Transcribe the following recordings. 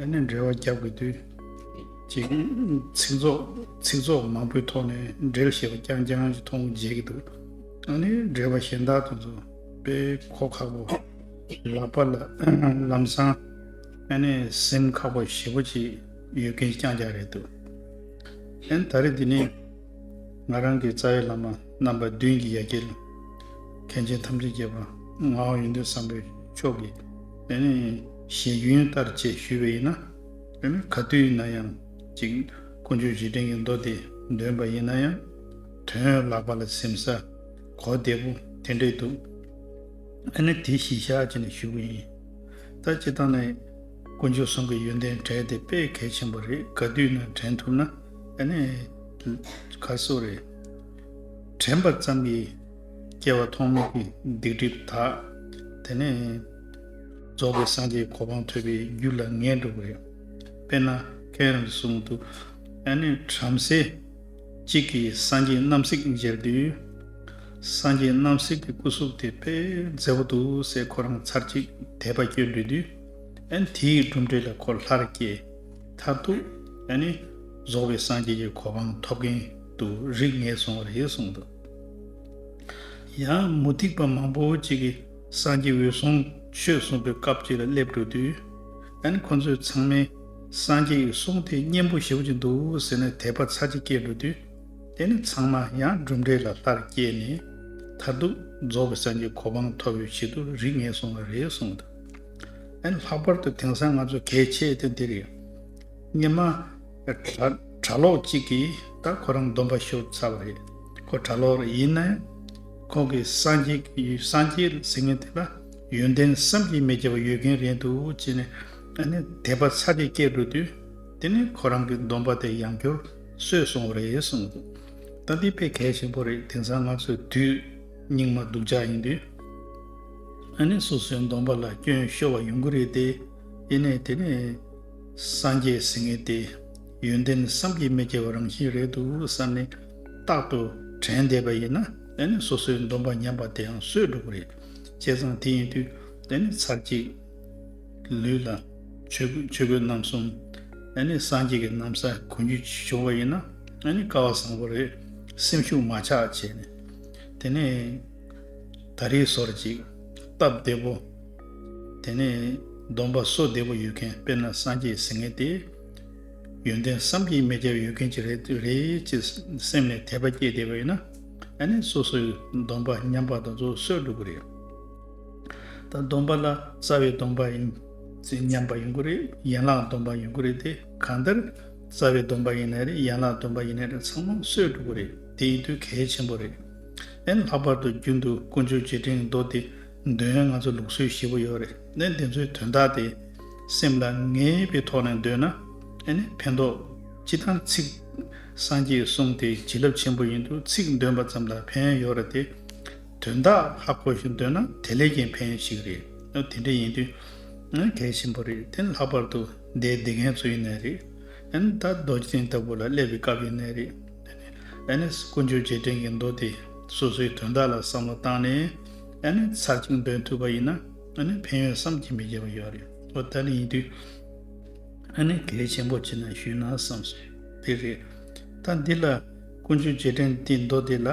ཡང་ནས་འབྲེལ་བ་རྒྱག་དགོས་དུས། ཅིག། ཚིག་ཚོགས་མང་པོའི་ཐོག་ནས་འབྲེལ་ཞེས་པ་རྐྱང་རྐྱང་ཞིག་མཐོང་མཇལ་གྱི་འདུག་ད་ནི་འབྲེལ་བ་གཞན་དག་ཏུ་འཛུགས་པས་གོ་ཁག་པོ། ལག་པ་ལ་ལམ་སང། ཡང་ནས་སེམས་ཁག་པོ་ཞེ་པོ་ཅིག་ཡོད་མཁན་རྐྱང་རྐྱང་རེད་འདུག་ཡང་ད་རེས་འདི་ནི། ང་རང་གི་རྩ་བའི་བླ་མ་རྣམ་པ་བདུན་གྱི་ཡ་གྱལ། མཁན་ཆེན་ཐམས་ཅད་རྒྱལ་བ་ངའོ་ཡིན་འདོད་བསམ་པའི་ཕྱོགས་ཀྱི། ཞེས་རྒྱུན་ཡོད་ལྟར་བཅས་ཞུས་པ་ཡིན་ན། ག་དུས་ཡིན་ན་ཡང་ཅིག་ཀུན་སྤྱོད་རྗེས་དྲན་གྱི་མདོ་དེ་འདོན་པ་ཡིན་ན་ཡང། དོན་བརླག་པ་ལ་སེམས་ས་གོ་བདེ་པོ་དེ་འདྲས་འདུག་ཨ་ནི་དེ་གཞི་བཞག་བྱས་ནས་ཞུ་གི་ཡིན། ད་སྤྱི་བཏང་ནས་ཀུན་སྤྱོད་ཟུང་གི་ཡོན་ཏན་དྲན་དེ་དཔེ་གལ་ཆེན་པོ་རེད་ག་དུས་ན་དྲན་ཐུབ་ན་ཨ་ནི་ཁ་གསོ་རེད། དྲན་པ་ཙམ་གྱིས་སྐྱེ་བ་ཐོག་མེད་ཀྱི་སྡིག་སྒྲིབ་དག། དེ་ནས་རྫོགས་པའི་སངས་རྒྱས་གོ་འཕང་ཐོས་པའི་རྒྱུ་ལ་ངེས་འགྲོ་བས། དཔེར་ན་ཁའི་རང་གཟུགས་མུ་ཏོ་ཨ་ནུའི་བྲམ་ཟེ་གཅིག་གིས་སངས་རྒྱས་རྣམ་གཟིགས་མཇལ་དུས། སངས་རྒྱས་རྣམ་གཟིགས་ཀྱི་སྐུ་གཟུགས་དེ་ཕལ་མཛེས་པོ་འདུག་སའི་ཁོ་རང་ཚར་གཅིག་དད་པ་བསྐྱོད་འདོད་དུས། དེའི་གྲུབ་འབྲས་ལ་ཁོ་ལྷར་སྐྱེས། མཐར་ཐུག། རྫོགས་པའི་སངས་རྒྱས་ཀྱི་གོ་འཕང་ཐོབ་གིན་དུ་རིགས་ངན་སོང་བ་རེད་གསུངས་འདུག། ཡང་མུ་སྟེགས་པ་མང་པོ་ཅིག་གིས་སངས་རྒྱས་འོད་སྲུང་ཆོས་གསུངས་པའི་སྐབས་ཅིག་ལ་སླེབས་འགྲོ་དུས། ད་ནི་ཁོ་ཚོས་ཚང་མས་སངས་རྒྱས་ཀྱི་གསུང་དེ་སྙན་པོ་ཞུ་གྱི་འདུག་ཟེར་ནས་དད་པ་ཚར་གཅིག་སྐྱེས་འགྲོ་དུས། དེ་ནི་ཚང་མ་ཡང་གྲུབ་འབྲས་ལ་ལྷར་བསྐྱེད་ནས་མཐར་ཐུག་རྫོགས་པའི་སངས་རྒྱས་གོ་འཕང་ཐོབ་པའི་ཆེད་དུ་རིགས་ངེས་སོང་བ་རེད་གསུངས་འདུག་ལྷག་པར་དུ་དེང་སང་ང་ཚོ་གལ་ཆེ་དོན་དེ་རེད། སྙེ་མ། གྲྭ་ལོག་ཅིག་གིས་ད་ཁོ་རང་སྡོམ་པ་ཤོར་ཚར་བ་རེད། ཁོ་གྲྭ་ལོག་རེད་ཡིན་ནའི། ཁོང་གིས་སངས་རྒྱས་ཀྱི་ཡུལ་སངས་རྒྱས་རེད་ཟེར་མཁན་དེ་ལ་ཡོན་ཏན་བསམ་གྱིས་མི་ཁྱབ་པ་ཡོད་མཁན་རེད་འདུག་ཅེས་ནས་ཨ་ནི་དད་པ་ཚ་གེ་སྐྱེས་འགྲོ་དུས། དེ་ནས་ཁོ་རང་གི་སྡོམ་པ་དེ་ཡང་འཁྱོར་སོས་སོང་བ་རེད་གསུངས་འདུག་ད་འདི་དཔེ་གལ་ཆེན་པོ་རེད་དེང་སང་ང་ཚོས་དུས་སྙིགས་མ་སྡུག་ཅག་ཡིན་དུས། ཨ་ནི་སོ་སོའི་སྡོམ་པ་ལ་སྐྱོན་ཤོར་བ་ཡོང་གི་རེད་དེ། ཡིན་ནའི་དེ་ནི། སངས་རྒྱས་ཟིན་ངེས་ཏེ། ཡོན་ཏན་བསམ་གྱིས་མི་ཁྱབ་པ་རང་བཞིན་རེད་འདུག་བསམ་ནས་རྟག་ཏུ་དྲན་བསྡད་པ་ཡིན་ན་དེ་ནི་སོ་སོའི་འདོམས་པ་ཉམས་པ་དེའང་སོས་འགྲོ་གི་རེད། བྱས་ཙང་དེ་ཡིན་དུས་དེ་ནི་ཚར་གཅིག་ལུས་ལ་ཆོས་གོས་རྣམ་གསུམ་དེ་ནི་སངས་རྒྱས་ཀྱི་གནམ་ས་གོན་རྒྱུ་བྱུང་བ་ཡིན་ན་ནི་དཀའ་བ་བཟང་པོ་རེད་སེམས་ཤུགས་མ་ཆག་བྱས་ནས་དེ་ནས་ད་རེས་ཟོར་གཅིག་བཏབ་བསྡད་པོ། དེ་ནས་སྡོམ་པ་སོགས་བདེ་བོ་ཡོད་མཁན་དཔེར་ན་སངས་རྒྱས་ཟེར་ངེས་ཏེ། ཡོན་ཏན་བསམ་གྱིས་མི་ཁྱབ་ཡོད་མཁན་གྱི་རེད་ཅེས་སེམས་ནས་དད་པ་སྐྱེས་བསྡད་པ་ཡིན་ན། ད་ནི་སོ་སོའི་སྡོམ་པ་ཉམས་པ་དང་སོ་སོས་སྒྲུབ་དགོས་རེད། ད་སྡོམ་པ་ལ་རྩ་བའི་སྡོམ་པ་ཡིན་ཚེ་ཉམས་པ་ཡོང་གི་རེད་ཡན་ལག་སྡོམ་པ་ཡོང་གི་རེད་དེ་གང་ལྟར་རྩ་བའི་སྡོམ་པ་ཡིན་ན་རེད་ཡན་ལག་སྡོམ་པ་ཡིན་ན་རེད་ཚང་མ་སོས་སྒྲུབ་དགོས་རེད་དེ་ཡིན་དུས་གལ་ཆེན་པོ་རེད། ཨེ་ལྷག་པར་དུ་རྒྱུན་དུ་དཀོན་མཆོག་རྗེས་དྲན་མདོ་དེ་འདོན་ང་ཚོ་ལུགས་སྲོལ་ཞེ་པོ་ཡོད་རེད་དེ་འདི་ཚོའི་དོན་དག་དེ་སེམས་ལ་ངེས་པའི་ཐོག་ནས་འདོན་ན་ཨེ་ནས་ཕན་ཐོག་སྤྱི་དང་ཚིག་སངས་རྒྱས་གསུང་དེ་བྱིན་རླབས་ཆེན་པོ་ཡིན་འདུག་ཚིག་འདོན་པ་ཙམ་ལ་ཕན་ཡོད་རེད་དེ་དོན་དག་ཧ་གོ་ཞིང་འདོན་ན་དེ་ལས་ཀྱང་ཕན་ཞིག་རེད་དེ་འདྲ་ཡིན་དུས་གལ་ཆེན་པོ་རེད་དེ་ལྷག་པར་དུ་འདས་འདི་མཁན་ཚོ་ཡིན་ནའི་རེད་ད་རྡོ་རྗེ་སེང་ལྟ་བུ་ལ་སླེབས་པའི་སྐབས་ཡིན་ནའི་རེད། ཨ་ནེ་ཨེནས་ཀུན་སྤྱོད་རྗེས་དྲན་གྱི་མདོ་དེས་སོ་སོའི་དོན་དག་ལ་བསམ་བློ་བཏང་ནས་ཨ་ནེ་ཚར་གཅིག་འདོན་ཐུབ་པ་ཡིན་ན་ཨ་ནེ་ཕན་ཡོན་བསམ་གྱིས་མི་ཁྱབ་པ་ཡོད་རེད་འོ་ད་ལི་ཡིན་དུས་ཨ་ནེ་གལ་ཆེན་པོ་ཅི་ན་ཞུས་ན་བསམ་སྲོལ་དེ་རེད་ད་འདི་ལ་ཀུན་སྤྱོད་རྗེས་དྲན་དེའི་མདོ་དེ་ལ་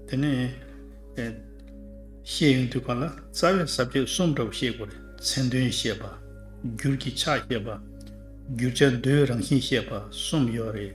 དེ་ནས་བཤད་ཡོང་དུས་གང་ལ་རྩ་བའི་ཟབ་ཁྱད་གསུམ་འདྲ་བོ་བཤད་དགོས་རེད་མཚན་དོན་བཤད་པ། འགྱུར་གྱི་ཆ་བཤད་པ། བསྒྱུར་བྱ་མདོའི་རང་བཞིན་བཤད་པ་གསུམ་ཡོད་རེད།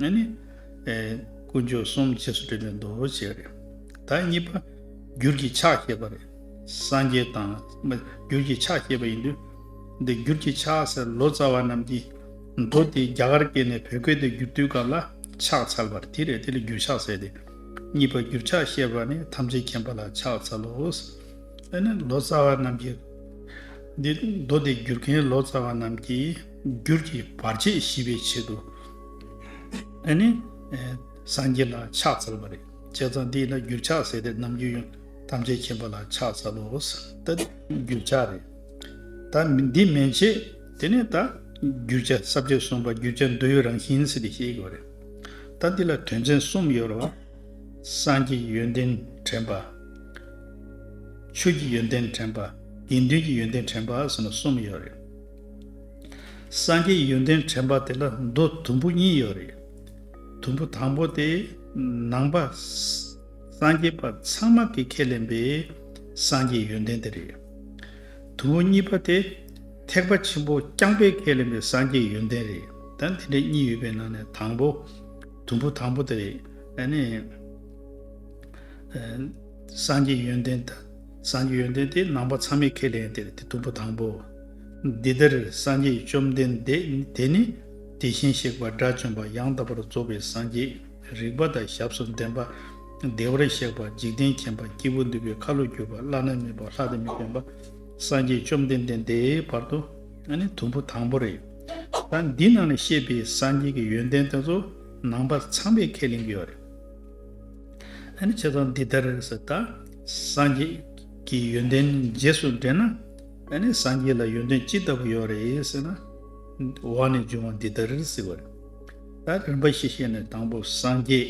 ང་ནི། དཀོན་མཆོག་གསུམ་རྗེས་སུ་འབྲེལ་ནས་འདུ་བྱེད་རེད། ད་གཉིས་པ། འགྱུར་གྱི་ཕྱག་བསྐྱེད་པ་རེད། སངས་རྒྱས་དང། འགྱུར་གྱི་ཕྱག་བསྐྱེད་པ་ཡིན་དུས། འདི་འགྱུར་གྱི་ཕྱག་ཟེར་ལོ་ཙཱ་བ་རྣམས་ཀྱིས། མདོ་དེ་རྒྱ་གར་སྐད་ནས་བོད་སྐད་དུ་བསྒྱུར་དུས་སྐབས་ལ་ཕྱག་འཚལ་བར་དེ་རེད་དེ་ལ་འགྱུར་ཕྱག་ཟེར་ཏེ། གཉིས་པ་འགྱུར་ཕྱག་བཤད་པ་ནི་ཐམས་ཅད་མཁྱེན་པ་ལ་ཕྱག་འཚལ་ལོ། ཨེ་ན་ལོ་ཙཱ་བ་རྣམས་ཀྱིས། འདི་མདོ་དེ་བསྒྱུར་མཁན་ལོ་ཙཱ་བ་རྣམས་ཀྱིས། འགྱུར་གྱི་བར་ཆད་ཞི་བའི་ཆེད་དུ། ཨེ་ནི། སངས་རྒྱས་ལ་ཕྱག་འཚལ་བ་རེད། བྱས་ཙང་འདི་ལ་འགྱུར་ཕྱག་ཟེར་ཏེ་ནམ་རྒྱུན་ཡང་ཐམས་ཅད་མཁྱེན་པ་ལ་ཕྱག་འཚལ་ལོ། ད་འགྱུར་ཕྱག་རེད། ད་འདི་མན་ཆད། དེ་ནས་ད་འགྱུར་ཕྱག་ས་བཅད་གསུམ་པ་འགྱུར་ཕྱག་འདི་ཡོད་རང་བཞིན་ཟེར་ཏེ་བཤད་དགོས་རེད། ད་འདི་ལ་དོན་ཚན་གསུམ་ཡོད་རེད། སངས་ཀྱི་ཡོན་ཏན་དྲན་པ། ཆོས་ཀྱི་ཡོན་ཏན་དྲན་པ། དགེ་འདུན་གྱི་ཡོན་ཏན་དྲན་པ་ཟེར་ན་གསུམ་ཡོད་རེད། སངས་རྒྱས་ཡོན་ཏན་དྲན་པ་དེ་ལ་མདོ་དུམ་བུ་གཉིས་ཡོད་རེད། དུམ་བུ་དང་པོ་དེ། ནང་པ། སངས་རྒྱས་པ་ཚང་མ་གིས་ཁས་ལེན་པའི། སངས་རྒྱས་ཡོན་ཏན་དེ་རེད། དུམ་བུ་གཉིས་པ་དེ། ཐེག་པ་ཆེན་པོ་རྐྱང་པས་ཁས་ལེན་པའི་སངས་རྒྱས་ཡོན་ཏན་རེད། ད་དེ་འདྲ་གཉིས་ཡོད་པའི་ནང་ནས་དང་པོ། དུམ་བུ་དང་པོ་དེ་རེད། ནི། སངས་རྒྱས་ཡོན་ཏན། སངས་རྒྱས་ཡོན་ཏན་དེ་ནང་པ་ཚང་མས་ཁས་ལེན་དེ་རེད་དེ་དུམ་བུ་དང་པོ། འདི་ལྟར་སངས་རྒྱས་བཅོམ་ལྡན་འདས་དེ་ནི་དེ་བཞིན་གཤེགས་པ་དགྲ་བཅོམ་པ་ཡང་དག་པར་རྫོགས་པའི་སངས་རྒྱས་རིག་པ་དང་ཞབས་སུ་འདྲེན་པ། བདེ་བར་གཤེགས་པ་འཇིག་རྟེན་མཁྱེན་པ་སྐྱེས་བུ་འདུལ་བའི་ཁ་ལོ་སྒྱུར་བ་བླ་ན་མེད་པ་ལྷ་དང་མི་ཕན་པ། སངས་རྒྱས་བཅོམ་ལྡན་འདས་དེའི་བར་དུ་ནི་དུམ་བུ་དང་པོ་རེད། ད་འདི་ནང་ནས་བཤད་པའི་སངས་རྒྱས་ཀྱི་ཡོན་ཏན་དེ་ཚོ་ནང་པ་ཚངས་པས་ཁས་ལེན་གྱི་ཡོད་རེད། བྱས་ཙང་འདི་ལྟར་ཟེར་ད། སངས་རྒྱས་ཀྱི་ཡོན་ཏན་རྗེས་སུ་འབྲེལ་ན། ཨེ་ནས་སངས་རྒྱས་ལ་ཡོན་ཏན་ཅི་ལྟ་བུ་ཡོད་རེད་ཟེར་ན། འོག་ནས་འབྱུང་བ་འདི་ལྟར་རེད་ཟེར་བ་རེད། ད་རིམ་པ་ཞིག་བཤད་ནས་དང་པོ་སངས་རྒྱས།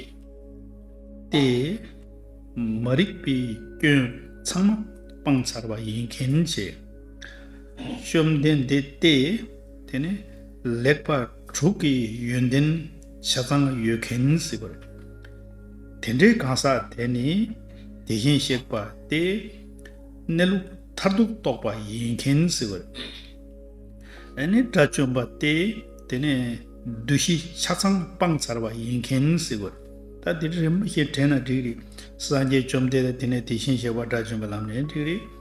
ཏེ། མ་རིག་པའི་སྐྱོན་ཚང་མ་སྤངས་ཚར་བ་ཡིན་མཁན་ཆེ། བཅོམ་ལྡན་འདས་ཏེ། དེ་ནས་ལེགས་པ་དྲུག་གི་ཡོན་ཏན་ཆ་ཚང་ཡོད་མཁན་ཟེར་བ་རེད། དེ་འདྲའི་གང་ཟག་དེ་ནི་དེ་བཞིན་གཤེགས་པ་སྟེ། གནས་ལུགས། མཐར་ཐུག་རྟོགས་པ་ཡིན་མཁན་ཟེར་བ་རེད། ཨ་ནི་དགྲ་བཅོམ་པ་སྟེ་དེ་ནས་བདུད་བཞི་ཆ་ཚང་སྤངས་ཚར་བ་ཡིན་མཁན་ཟེར་བ་རེད། ད་དེ་རིང་རིམ་པ་ཞིག་དྲན་ན་འགྲིག་རེད། སངས་རྒྱས་བཅོམ་ལྡན་དང་དེ་ནས་དེ་བཞིན་གཤེགས་པ་དགྲ་བཅོམ་པའི་ལམ་ནས་འགྲིག་རེད།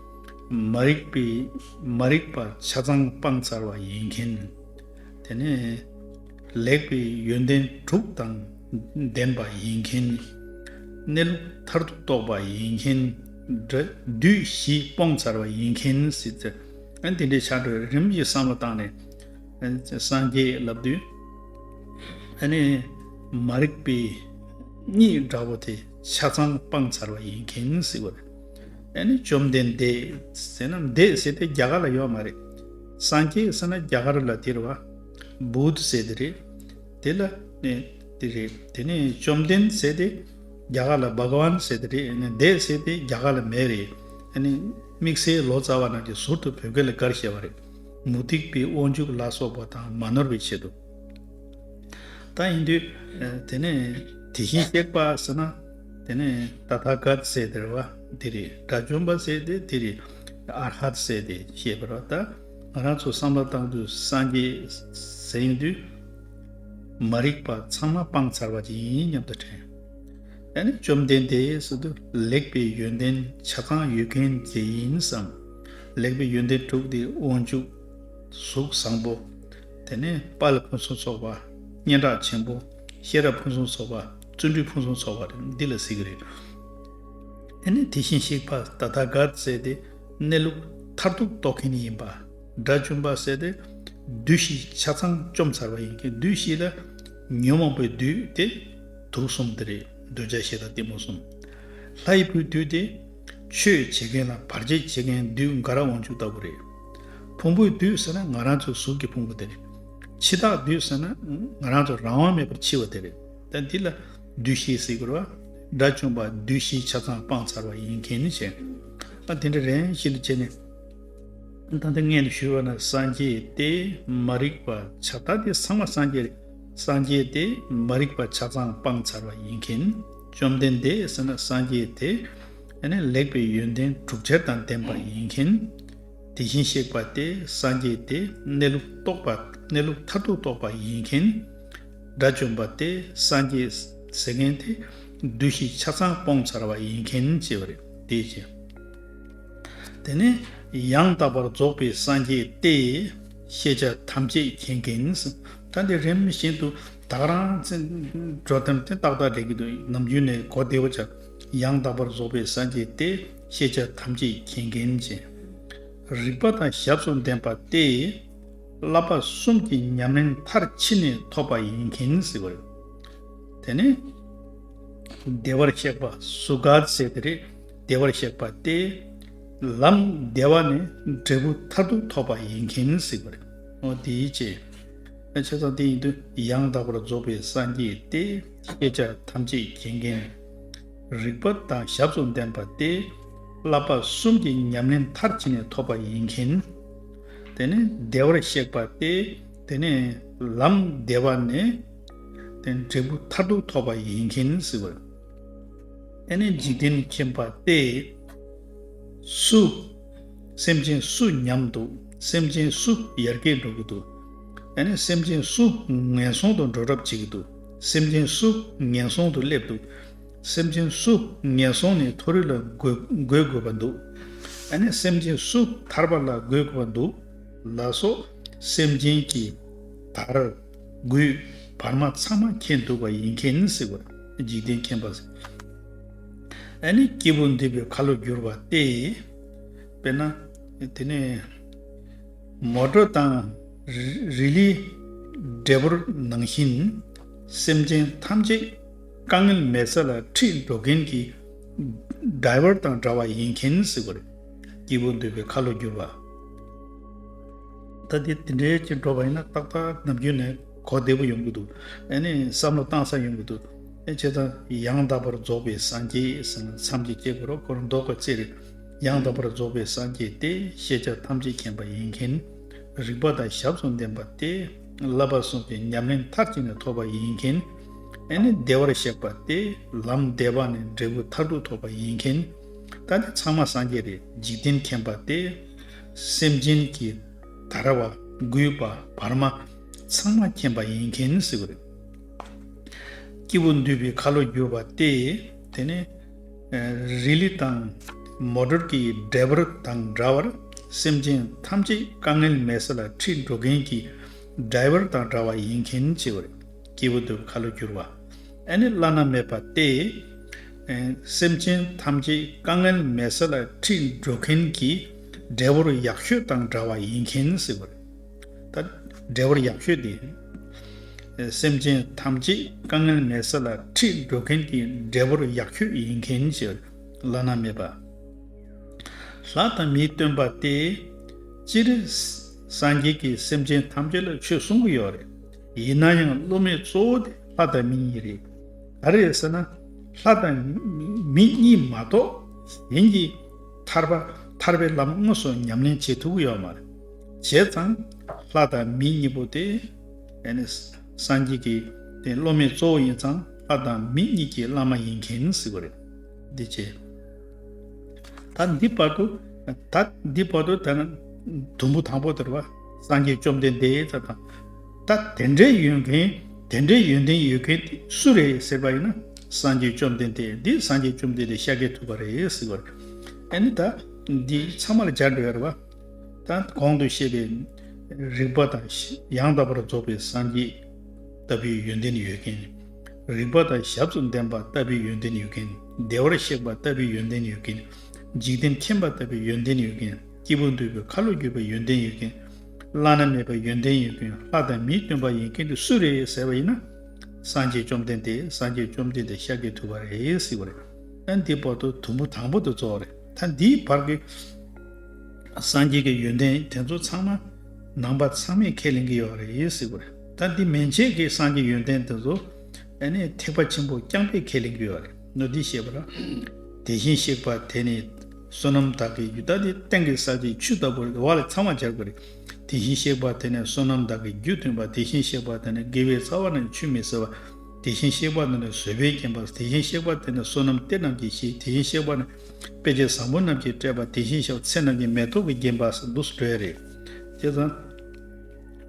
མ་རིག་པས་མ་རིག་པ་ཆ་ཚང་སྤངས་ཚར་བ་ཡིན་མཁན། དེ་ནས་ལེགས་པའི་ཡོན་ཏན་དྲུག་དང་ལྡན་པ་ཡིན་མཁན། གནས་ལུགས་མཐར་ཐུག་རྟོགས་པ་ཡིན་མཁན། འདྲ། བདུད་བཞི་སྤོང་ཚར་བ་ཡིན་མཁན་སྲིད་ཚེ། དེ་འདྲའི་བྱ་གྲོལ་རིམ་གྱིས་བསམ་བློ་བཏང་ནས། སངས་རྒྱས་ལབ་བདུད། ཨ་ནི། མ་རིག་པའི། གཉིད་འདྲ་བོ་དེ་ཆ་ཚང་སྤངས་ཚར་བ་ཡིན་མཁན་སྲིད་བ་རེད། ཨ་ནི་བཅོམ་ལྡན་འདས་ཟེར་ན་འདས་ཟེར་དེ་རྒྱ་གར་ལ་ཡོད་མ་རེད། སངས་རྒྱས་ཟེར་ན་རྒྱ་གར་ལ་དེར་བ། Buddh། ཟེར་དེ་རེད། དེ་ལ། དེ་རེད། དེ་ནས་བཅོམ་ལྡན་ཟེར་དེ། རྒྱ་གར་ལ Bhagwan ཟེར་ཏེ་རེད་ནས Dad ཟེར་ཏེ་རྒྱ་གར་ལ་མེད་རེད། དམིགས་བསལ་ལོ་ཙཱ་བ་རྣམས་ཀྱི་ཟུར་དུ་བོད་སྐད་ལ་དགར་བཤད་པ་རེད། མུ་སྟེགས་པའི་དབང་ཕྱུག་ལ་སོགས་པ་དང་མ་ནོར་བའི་ཆེད་དུ། ད་ཡིན་དུས། དེ་ནས་དེ་བཞིན་གཤེགས་པ་ཟེར་ན། དེ་ནས Tathagata ཟེར་ཏེ་རེད་བ། དེ་རེད། དགྲ་བཅོམ་པ་ཟེར་ཏེ་དེ་རེད། Arhat ཟེར་ཏེ་བཤད་པ་རེད་བ། ད་ང་རང་ཚོ་བསམ་བློ་བཏང་དུས་སངས་རྒྱས་ཟེར་ཡོང་དུས། མ་རིག་པ་ཚང་མ་སྤངས་ཚར་བ་ཅིག་ཡིན་སྙམ་དུ་དྲན། ད་ནི་བཅོམ་ལྡན་འདས་སུ་དུ་ལེགས་པའི་ཡོན་ཏན་ཆ་གང་ཡོད་མཁན་དེ་ཡིན་བསམ། ལེགས་པའི་ཡོན་ཏན་དྲུག་དེ་དབང་ཕྱུག། གཟུགས་བཟང་པོ། དེ་ནས་དཔའ་ལ་ཕུན་སུམ་ཚོགས་པ། སྙན་གྲགས་ཆེན་པོ། ཤེས་རབ་ཕུན་སུམ་ཚོགས་པ། བརྩོན་འགྲུས་ཕུན་སུམ་ཚོགས་པ་རེད་འདི་ལ་ཟེར་གྱི་རེད། དེ་ནས་དེ་བཞིན་གཤེགས་པ་ད་ལྟ་གར་བཙལ་ཏེ་གནས་ལུགས་མཐར་ཐུག་རྟོགས་མཁན་ཡིན་པ། སྒྲ་བཅུ་འབར་བསལ་ཏེ། བདུད་བཞི་ཆ་ཚང་བཅོམ་ཚར་བ་ཡིན་གྱི་བདུད་བཞི་ལ། ཉོན་མོངས་པའི་བདུད་དེ། དུག་གསུམ་དེ་རེད་འདོད་ཆགས་ཞེ་སྡང་གཏི་མུག་གསུམ། ལྷ་ཡི་བུའི་བདུད་དེ། ཆོས་བྱེད་མཁན་ལ་བར་ཆད་བྱེད་མཁན་བདུད་འགའ་ར་དབང་ཕྱུག་ལྟ་བུ་རེད། ཕུང་པོའི་བདུད་ཟེར་ན་ང་རང་ཚོའི་གཟུགས་ཀྱི་ཕུང་པོ་དེ་རེད། འཆི་བདག་བདུད་ཟེར་ན། ང་རང་ཚོ་རང་དབང་མེད་པར་འཆི་བ་དེ་རེད། ད་འདི་ལ། བདུད་བཞིའི་སྲིད་འཁོར་བ། སྒྲ་བཅུ་འབར་བདུད་བཞི་ཆ་ཚང་སྤངས་ཚར་བ་ཡིན་གྱི་ནི་བྱས། ཨ་དེ་འདྲ་རེད་བཞི་ལ་བྱས་ནས། ད་ལྟ་ངས་འདི་ཞུས་པ་ནི་སངས་རྒྱས་ཏེ་མ་རིག་པ་བྱ་ལྟ་སྟེ་ཚང་མ་སངས་རྒྱས་སངས་རྒྱས་ཏེ་མ་རིག་པ་བྱ་ཚང་སྤངས་ཚར་བ་ཡིན་གྱིན། བཅོམ་ལྡན་འདས་ཟེར་ན་སངས་རྒྱས་དེ་ནི་ལེགས་པའི་ཡོན་ཏན་དྲུག་ཆར་དང་ལྡན་པ་ཡིན་གྱིན། དེ་བཞིན་གཤེགས་པ་སྟེ་སངས་རྒྱས་དེ་གནས་ལུགས་རྟོགས་པ་གནས་ལུགས་མཐར་ཐུག་རྟོགས་པ་ཡིན་གྱིན། དགྲ་བཅོམ་པ་སྟེ་སངས་རྒྱས་ཟེར་མཁན་དེ་བདུད་བཞི་ཆ་ཚང་སྤོངས་ཚར་བ་ཡིན་གྱིན་ཅེས་པ་རེད་དེ། དེ་ནི་ཡང་དག་པར་རྫོགས་པའི་སངས་རྒྱས་ཏེ། ཤེས་བྱ་ཐམས་ཅད་མཁྱེན་གིན། ད་འདི་རིམ་བཞིན་དུ་དག་རང་འགྲོ་དོན་ཏེ་ཏག་ཏག་འགྲེལ་གྱི་འདུག་ནམ་རྒྱུན་ནས་གོ་བདེ་བོ་བྱ། ཡང་དག་པར་རྫོགས་པའི་སངས་རྒྱས་ཏེ། ཤེས་བྱ་ཐམས་ཅད་མཁྱེན་གིན། རིག་པ་དང་ཞབས་སུ་ལྡན་པ་སྟེ། བསླབ་པ་གསུམ་གྱི་ཉམས་ལེན་མཐར་ཕྱིན་ནས་ཐོབ་པ་ཡིན་གྱིན་ཟེར་བ་རེད། དེ་ནི་བདེ་བར་གཤེགས་པ་སུ་དགའ་ཚེ་དེ་རེད། བདེ་བར་གཤེགས་པ་སྟེ། ལམ་བདེ་བ་ནི་འབྲས་བུ་མཐར་ཐུག་ཐོབ་པ་ཡིན་མཁྱེན་གཟིགས་པར་བྱའོ། དེའི་ཕྱིར། བྱས་ཙང་དེ་ཡིན་དུ་ཡང་དག་པར་རྫོགས་པའི་སངས་རྒྱས་ཏེ། ཤེས་བྱ་ཐམས་ཅད་མཁྱེན་མཁན། རིག་པ་དང་ཞབས་སུ་ལྡན་པ་སྟེ། བསླབ་པ་གསུམ་གྱི་ཉམས་ལེན་མཐར་ཕྱིན་ནས་ཐོབ་པ་ཡིན་མཁྱེན། དེ་ནི་བདེ་བར་གཤེགས་པ་སྟེ། དེ་ནི་ལམ་བདེ་བ་ནི། འབྲས་བུ་མཐར་ཐུག་ཐོབ་པ་ཡིན་མཁྱེན་གཟིགས་པར། དེ་ནི་འཇིག་རྟེན་མཁྱེན་པ་སྟེ། སུ། སེམས་ཅན་སུ་ཉམས་འདུག་སེམས་ཅན་སུ་ཡར་རྒྱས་འགྲོ་གི་འདུག་དེ་ནི་སེམས་ཅན་སུ་ངན་སོང་དུ་འགྲོ་གྲབས་བྱེད་ཀྱི་འདུག་སེམས་ཅན་སུ་ངན་སོང་དུ་སླེབས་འདུག་སེམས་ཅན་སུ་ངན་སོང་ནས་མཐོ་རིས་ལ་འགོད་དགོས་པ་འདུག་དེ་ནི་སེམས་ཅན་སུ་ཐར་པ་ལ་འགོད་དགོས་པ་འདུག་ལ་སོགས་སེམས་ཅན་གྱི་དར། དགུའི། བར་མ་ཚང་མ་མཁྱེན་འདུག་པ་ཡིན་མཁྱེན་ནི་སྲིད་པ། འཇིག་རྟེན་མཁྱེན་པ། ཨ་ནི་སྐྱེས་བུ་འདི་པའི་ཁ་ལོ་བསྒྱུར་བ་སྟེ། དཔེར་ན། དེ་ནས། མོ་གྲོ་དང། རི་ལི། འབྲས་བུར་ནང་བཞིན། སེམས་ཅན་ཐམས་ཅད། དཀའ་ངལ་མེད་ས་ལ་ཁྲིད་འགྲོ་མཁན་གྱི། སྡྲཱི་ཝར་དང་འདྲ་བ་ཡིན་མཁྱེན་ནི་སྲིད་པ། སྐྱེས་བུ་འདི་པའི་ཁ་ལོ་བསྒྱུར་བ། ད་དེ་དེ་འདྲའི་ཅི་འགྲོ་བ་ཡིན་ན་ཏག་ཏག་ནམ་རྒྱུན་ནས་གོ་བདེ་པོ་ཡོང་གི་འདུག་ཨེ་ནས་བསམ་བློ་བཏང་ས་ཡོང་གི་འདུག་ཨེ་བྱས་ཙང་ཡང་དག་པར་རྫོགས་པའི་སངས་རྒྱས་ཟེར་ན་མཚམས་ཀྱི་སྐྱེ་དགུ་རོ་སྐོར་མདོ་ཀ་རྩེ་རེད་ཡང་དག་པར་རྫོགས་པའི་སངས་རྒྱས་ཏེ་ཤེས་བྱ་ཐམས་ཅད་མཁྱེན་པ་ཡིན་མཁན་རིག་པ་དང་ཞབས་སུ་འདེམས་པ་སྟེ་བསླབ་པ་གསུམ་གྱི་ཉམས་ལེན་མཐར་གཅིག་ནས་ཐོབ་པ་ཡིན་མཁན་ཨེ་ནས་བདེ་བར་གཤེགས་པ་སྟེ་ལམ་བདེ་བ་ནས་འབྲས་བུ་མཐར་ཐུག་ཐོབ་པ་ཡིན་མཁན་ད་དེ་ཚང་མ་སངས་རྒྱས་རེད་འཇིག་རྟེན་མཁྱེན་པ་སྟེ། སེམས་ཅན་གྱི་དར་བ་རྒུད་པ་བར་མ་ཚང་མ་མཁྱེན་པ་ཡིན་མཁན་ཟེར་གྱི་རེད། སྐྱེས་བུ་འདུས་པའི་ཁ་ལོ་བསྒྱུར་བ་སྟེ་དེ་ནི་རི་ལི་དང་མོ་དྲོར་གྱི་འབྲས་བུ་དང་འདྲ་བར་སེམས་ཅན་ཐམས་ཅད་དཀའ་ངལ་མེད་ས་ལ་ཁྲིད་འགྲོ་མཁན་གྱི་སྦྲའི་བུར་དང་འདྲ་བ་ཡིན་མཁན་ཟེར་གྱི་རེད། སྐྱེས་བུ་འདུས་པའི་ཁ་ལོ་བསྒྱུར་བ། ཨེ་ནི་བླ་ན་མེད་པ་སྟེ། སེམས་ཅན་ཐམས་ཅད་དཀའ་ངལ་མེད་ས་ལ་ཁྲིད་འགྲོ་མཁན་གྱི་འདྲེ་བོར་ཡག་ཤོས་དང་འདྲ་བ་ཡིན་མཁན་ཟེར་བ་རེད། ད་འདྲེ་བོར་ཡག་ཤོས་དེ། སེམས་ཅན་ཐམས་ཅད་དཀའ་ངལ་མེད་ས་ལ་ཁྲིད་འགྲོ་མཁན་གྱི་འདྲེ་བོར་ཡག་ཤོས་ཡིན་མཁན་གྱི་བླ་ན་མེད་པ། ལྷ་དང་མིའི་སྟོན་པ་སྟེ། སྤྱིར་སངས་རྒྱས་ཀྱིས་སེམས་ཅན་ཐམས་ཅད་ལ་ཆོས་གསུང་གི་ཡོད་རེད། ཡིན་ན་ཡང་སློབ་མའི་གཙོ་བོ་དེ་ལྷ་དང་མི་གཉིས་རེད། ག་རེད་ཟེར་ན། ལྷ་དང་མི་གཉིས་མ་གཏོགས་གཞན་གྱི་ཐར་པ་ཐར་པའི་ལམ་དངོས་སུ་ཉམས་ལེན་བྱེད་ཐུབ་ཀྱི་ཡོད་མ་རེད། བྱས་ཙང་ལྷ་དང་མི་གཉིས་པོ་དེ་སངས་རྒྱས་ཀྱི་དེ་སློབ་མའི་གཙོ་བོ་ཡིན་ཙང་ལྷ་དང་མི་གཉིས་ཀྱི་བླ་མ་ཡིན་མཁན་སྲིད་པ་རེད། འདི་བྱས། ད་འདི་བར་དུ་ད་འདི་བར་དུ་ད་ནི་དུམ་བུ་དང་པོ་དེར་བ། སངས་རྒྱས་བཅོམ་ལྡན་འདས་ད་དང་ད་དེ་འདྲའི་ཡོད་མཁན་དེ་འདྲའི་ཡོན་ཏན་ཡོད་མཁན་དེ་སུ་རེད་ཟེར་བ་ཡིན་ན། སངས་རྒྱས་བཅོམ་ལྡན་འདས་འདི་སངས་རྒྱས་བཅོམ་ལྡན་འདས་ཤཱཀྱའི་ཐུབ་པ་རེད་ཟེར་བ་རེད། ཨེ་ནི་ད་འདི་ཚང་མ་ལ་སྦྱར་འགྲོ་ཡ་རེད་བ། ད་གོང་དུ་བཤད་པའི་རིག་པ་དང་ཡང་དག་པར་རྫོགས་པའི་སངས་རྒྱས་ལྟ་བུའི་ཡོན་ཏན་ཡོད་མཁན། རིག་པ་དང་ཞབས་སུ་འདེམས་པ་ལྟ་བུའི་ཡོན་ཏན་ཡོད་མཁན། བདེ་བར་གཤེགས་པ་ལྟ་བུའི་ཡོན་ཏན་ཡོད་མཁན། འཇིག་རྟེན་མཁྱེན་པ་ལྟ་བུའི་ཡོན་ཏན་ཡོད་མཁན། སྐྱེས་བུ་འདུལ་བའི་ཁ་ལོ་བསྒྱུར་བའི་ཡོན་ཏན་ཡོད་མཁན། བླ་ན་མེད་པའི་ཡོན་ཏན་ཡོད་མཁན་ལྷ་དང་མིའི་སྟོན་པ་ཡིན་མཁན་དེ་སུ་རེད་ཟེར་བ་ཡིན་ན། སངས་རྒྱས་བཅོམ་ལྡན་འདས་སངས་རྒྱས་བཅོམ་ལྡན་འདས་ཤཱཀྱའི་ཐུབ་པ་རེད་ཟེར་བ་རེད། ཨ་འདིའི་བར་དུ་དུམ་བུ་དང་པོ་དེ་རྫོགས་བ་རེད་ད་འདིའི་བར་གྱི་སངས་རྒྱས་ཀྱི་ཡོན་ཏན་དེ་ཚོ་ཚང་མ་ནང་པ་ཚང་མས་ཁས་ལེན་གྱི་ཡོད་རེད་ཟེར་བ་རེད་ད་འདི་མན་ཆད་ཀྱི་སངས་རྒྱས་ཡོན་ཏན་དེ་ཚོ་ཨ་ནི་ཐེག་པ་ཆེན་པོ་རྐྱང་པས་ཁས་ལེན་གྱི་ཡོད་རེད་ནོ་འདི་ཤེས་པ་ལ་དེ་བཞིན་གཤེགས་པ་དེ་ནི། བསོད་ནམས་དག་གི་རྒྱུ་ལྟ་སྟེ་སྟེང་གི་ས་ཆའི་ཆུ་ལྟ་བུར་རེ་བ་ལས་ཚང་བར་སྦྱར་དགོས། དེ་བཞིན་གཤེགས་པ་དེ་ནི་བསོད་ནམས་དག་གི་རྒྱུ་མཐུན་པ་དེ་བཞིན་གཤེགས་པ་དེ་ནི་དགེ་བའི་རྩ་བ་རྣམས་ཆུད་མི་ཟ་བ། དེ་བཞིན་གཤེགས་པ་དེ་ནི་བཟོད་པས་བརྒྱན་པ་དེ་བཞིན་གཤེགས་པ་དེ་ནི་བསོད་ནམས་གཏེར་རྣམས་ཀྱིས་ཤིག་དེ་བཞིན་གཤེགས་པ་ནི་དཔེ་བྱད་བཟང་པོ་རྣམས་ཀྱིས་སྤྲས་པ་དེ་བཞིན་གཤེགས་ཚེ་རྣམས་ཀྱི་མེ་ཏོག་གིས་བརྒྱན་པ་སེ་འདུག་སྒྲོལ་རེག་བྱེད་ཟང་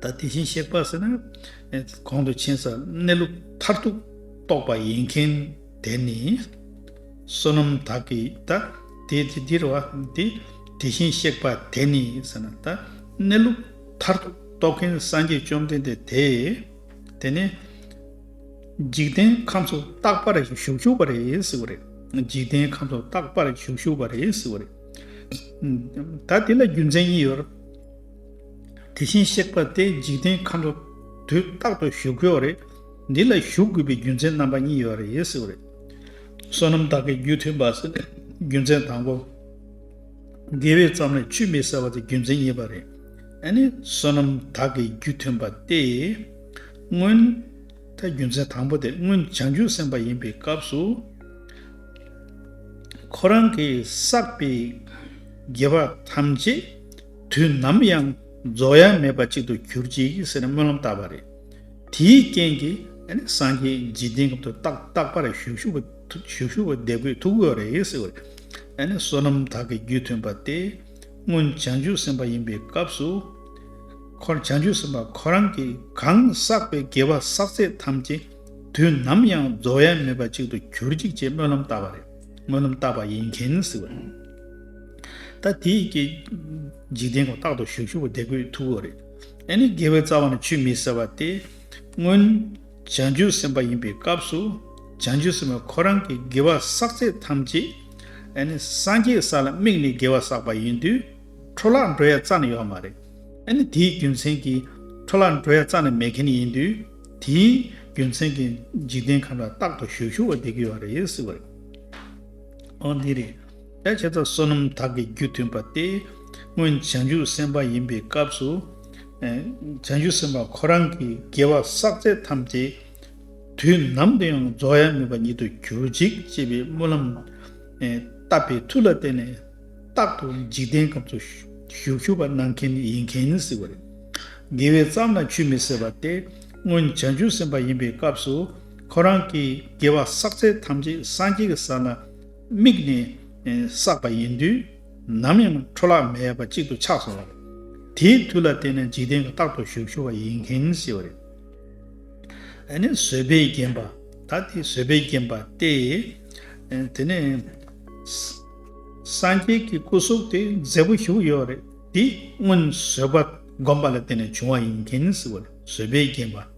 ཐལ་དེ་བཞིན་གཤེགས་པ་ཟེར་ན། གོང་དུ་ཕྱིན་ས་གནས་ལུགས་མཐར་ཐུག་རྟོགས་པ་ཡིན་མཁན། དེ་ནི། བསོད་ནམས་དག་གི་ད་དེ་དེ་འདིར་བ་དེ་དེ་བཞིན་གཤེགས་པ་དེ་ནི་ཟེར་ན་ད་གནས་ལུགས་མཐར་རྟོགས་མཁན་སངས་རྒྱས་བཅོམ་ལྡན་འདས་དེ། དེ་ནི། འཇིག་རྟེན་ཁམས་སུ་རྟག་པར་བཞུགས་བཞུགས་པར་རེད་ཟེར་བ་རེད། འཇིག་རྟེན་ཁམས་སུ་རྟག་པར་བཞུགས་བཞུགས་པར་རེད་ཟེར་བ་རེད། ད་དེ་ལ་རྒྱུ་མཚན་གཉིས་ཡོད། དེ་བཞིན་གཤེགས་པ་དེ་འཇིག་རྟེན་ཁམས་སུ་དུས་རྟག་ཏུ་བཞུགས་ཡོད་རེད། འདི་ལ་ཞུགས་དགོས་པའི་རྒྱུ་མཚན་རྣམ་པ་གཉིས་ཡོད་རེད་ཟེར་བ་རེད། བསོད་ནམས་དག་གི་རྒྱུ་མཐུན་པ་ཟེར་ནས་རྒྱུ་མཚན་དང་པོ། དགེ་བའི་རྩ་མེད་ཆུད་མེད་ཟེར་བ་དེ་རྒྱུ་མཚན་གཉིས་པ་རེད། ཨ་ནི་བསོད་ནམས་དག་གི་རྒྱུ་མཐུན་པ་སྟེ། སྔོན། ད་རྒྱུ་མཚན་དང་པོ་དེ་སྔོན་བྱང་ཆུབ་སེམས་དཔའ་ཡིན་པའི་སྐབས་སུ། ཁོ་རང་གིས་བསགས་པའི་དགེ་བ་ཐམས་ཅད་དུས་ནམ་ཡང་རྫོགས་ཡ་མེད་པ་ཅིག་ཏུ་གྱུར་ཅིག་ཟེར་ནས་སྨོན་ལམ་བཏབ་པ་རེད། དེའི་རྐྱེན་གྱིས་སངས་རྒྱས་འཇིག་རྟེན་གྱི་དུས་རྟག་པར་བཞུགས་ཞུ་བ་བདེ་པོའི་ཐུགས་དགོས་རེད་ཟེར་བ་རེད། བསོད་ནམས་དག་གི་རྒྱུད་མཐུན་པ་སྟེ། སྔོན་བྱང་ཆུབ་སེམས་དཔའ་ཡིན་པའི་སྐབས་སུ། བྱང་ཆུབ་སེམས་དཔའ་ཁོ་རང་གིས་གང་བསགས་པའི་དགེ་བ་བསགས་ཚད་ཐམས་ཅད་དུས་ནམ་ཡང་རྫོགས་ཡ་མེད་པ་ཅིག་ཏུ་གྱུར་ཅིག་ཅེས་སྨོན་ལམ་བཏབ་པ་རེད། སྨོན་ལམ་བཏབ་པ་ཡིན་གྱིན་ཟེར་བ་རེད། ད་དེའི་རྐྱེན་གྱིས་འཇིག་རྟེན་གྱི་དུས་རྟག་ཏུ་བཞུགས་ཞུ་བ་བདེ་པོའི་ཐུགས་དགོས་རེད། ཨེ་ནི་དགེ་བའི་རྩ་བ་ནི་ཆུད་མི་ཟ་བ་སྟེ། སྔོན། བྱང་ཆུབ་སེམས་དཔའ་ཡིན་པའི་སྐབས་སུ། བྱང་ཆུབ་སེམས་དཔའ་ཁོ་རང་གི་དགེ་བ་བསགས་ཚད་ཐམས་ཅད། ཨེ་ནི་སངས་རྒྱས་ས་ལ་དམིགས་ནས་དགེ་བ་བསགས་པ་ཡིན་དུས། འཕྲོ་བརླག་འགྲོ་ཡ་རྩ་ནི་ཡོད་མ་རེད། ཨེ་ནི་དེའི་རྒྱུ་མཚན་གྱིས། འཕྲོ་བརླག་འགྲོ་ཡ་རྩ་ནི་མེད་མཁན་ཡིན་དུས། དེའི་རྒྱུ་མཚན་གྱིས་འཇིག་རྟེན་ཁམས་ལ་རྟག་ཏུ་བཞུགས་ཞུ་བ་འདི་དགོས་བ་རེད། འོ་འདི་རེད། ཕལ་ཆེར་དག་བསོད་ནམས་དག་གི་རྒྱུ་མཐུན་པ་སྟེ། སྔོན་བྱང་ཆུབ་སེམས་དཔའ་ཡིན་པའི་སྐབས་སུ། བྱང་ཆུབ་སེམས་དཔའ་ཁོ་རང་གི་དགེ་བ་བསགས་ཚད་ཐམས་ཅད་དུས་ནམ་དུ་ཡང་རྫོགས་ཡ་མེད་པ་ཉིད་དུ་གྱུར་ཅིག་ཅེས་པའི་སྨོན་ལམ་བཏབ་པའི་མཐུ་ལ་བརྟེན་ནས། རྟག་ཏུ་འཇིག་རྟེན་ཁམས་སུ་ཞུགས་ཤུ་བ་གནང་མཁན་ཡིན་མཁན་ནི་སྲིད་པ་རེད། དགེ་བའི་རྩ་ན་ཆུད་མི་ཟད་པ་སྟེ། སྔོན་བྱང་ཆུབ་སེམས་དཔའ་ཡིན་པའི་སྐབས་སུ་ཁོ་རང་གི་དགེ་བ་བསགས་ཚད་ཐམས་ཅད་སངས་རྒྱས་ཀྱི་ས་ན། དམིགས་ནས་བསགས་པ་ཡིན་དུས། ནམ་ཡང་འཕྲོ་བརླག་མེད་པ་གཅིག་ཏུ་ཆགས་སོང་བ་རེད། དེའི་དུས་ལ་བརྟེན་ནས་འཇིག་རྟེན་གྱི་རྟག་ཏུ་བཞུགས་ཞུ་བ་ཡིན་མཁན་ཞེས་པ་རེད། ཨ་ནི་བཟོད་པས་བརྒྱན་པ། ད་དེ་བཟོད་པས་བརྒྱན་པ་སྟེ། དེ་ནས། སངས་རྒྱས་ཀྱི་སྐུ་གཟུགས་དེ་མཛེས་པོ་བཞུགས་ཡོད་རེད། དེ་སྔོན་བཟོད་པ་བསྒོམས་པ་ལ་བརྟེན་ནས་བྱུང་བ་ཡིན་མཁན་ཞེས་པ་རེད། བཟོད་པས་བརྒྱན་པ།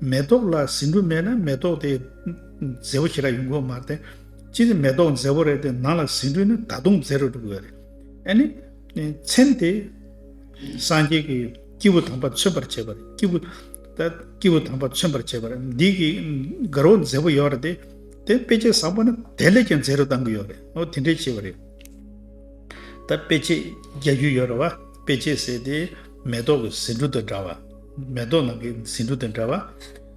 མེ་ཏོག་ལ་ཟིན་འབྲུ་མེད་ན་མེ་ཏོག་དེ་མཛེས་པོ་ཞིག་རག་ཡོང་གི་མ་རེད། ཅི་སྟེ་མེ་ཏོག་མཛེས་པོ་རེད་དེ་ནང་ལ་ཟིན་འབྲུ་ནི་ད་དུང་མཛེས་རུ་འགྲོ་གི་ཡོད་རེད། ཨ་ནི། མཚན་དེ་སངས་རྒྱས་ཀྱི་སྐྱེས་བུ་དམ་པ་མཚོན་པར་བྱེད་པ་རེད། སྐྱེས་བུ། ད་སྐྱེས་བུ་དམ་པ་མཚོན་པར་བྱེད་པ་རེད། འདི་གི་དགའ་རོགས་མཛེས་པོ་ཡོད་རེད་དེ། དཔེ་ཆ་བཟང་པོ་ནི་དེ་ལས་ཀྱང་མཛེས་རུ་གཏང་གི་ཡོད་རེད། ཨོ་དེ་འདྲའི་བྱེད་པ་རེད། ད་དཔེ་ཆས་རྒྱག་རྒྱུ་ཡོད་རེད་བ། དཔེ་ཆས་ཟེར་དེ། མེ་ཏོག་གི་ཟེ་འབྲུ་དང་འདྲ་བ། མེ་ཏོག་ནང་གི་ཟེ་འབྲུ་དང་འདྲ་བ།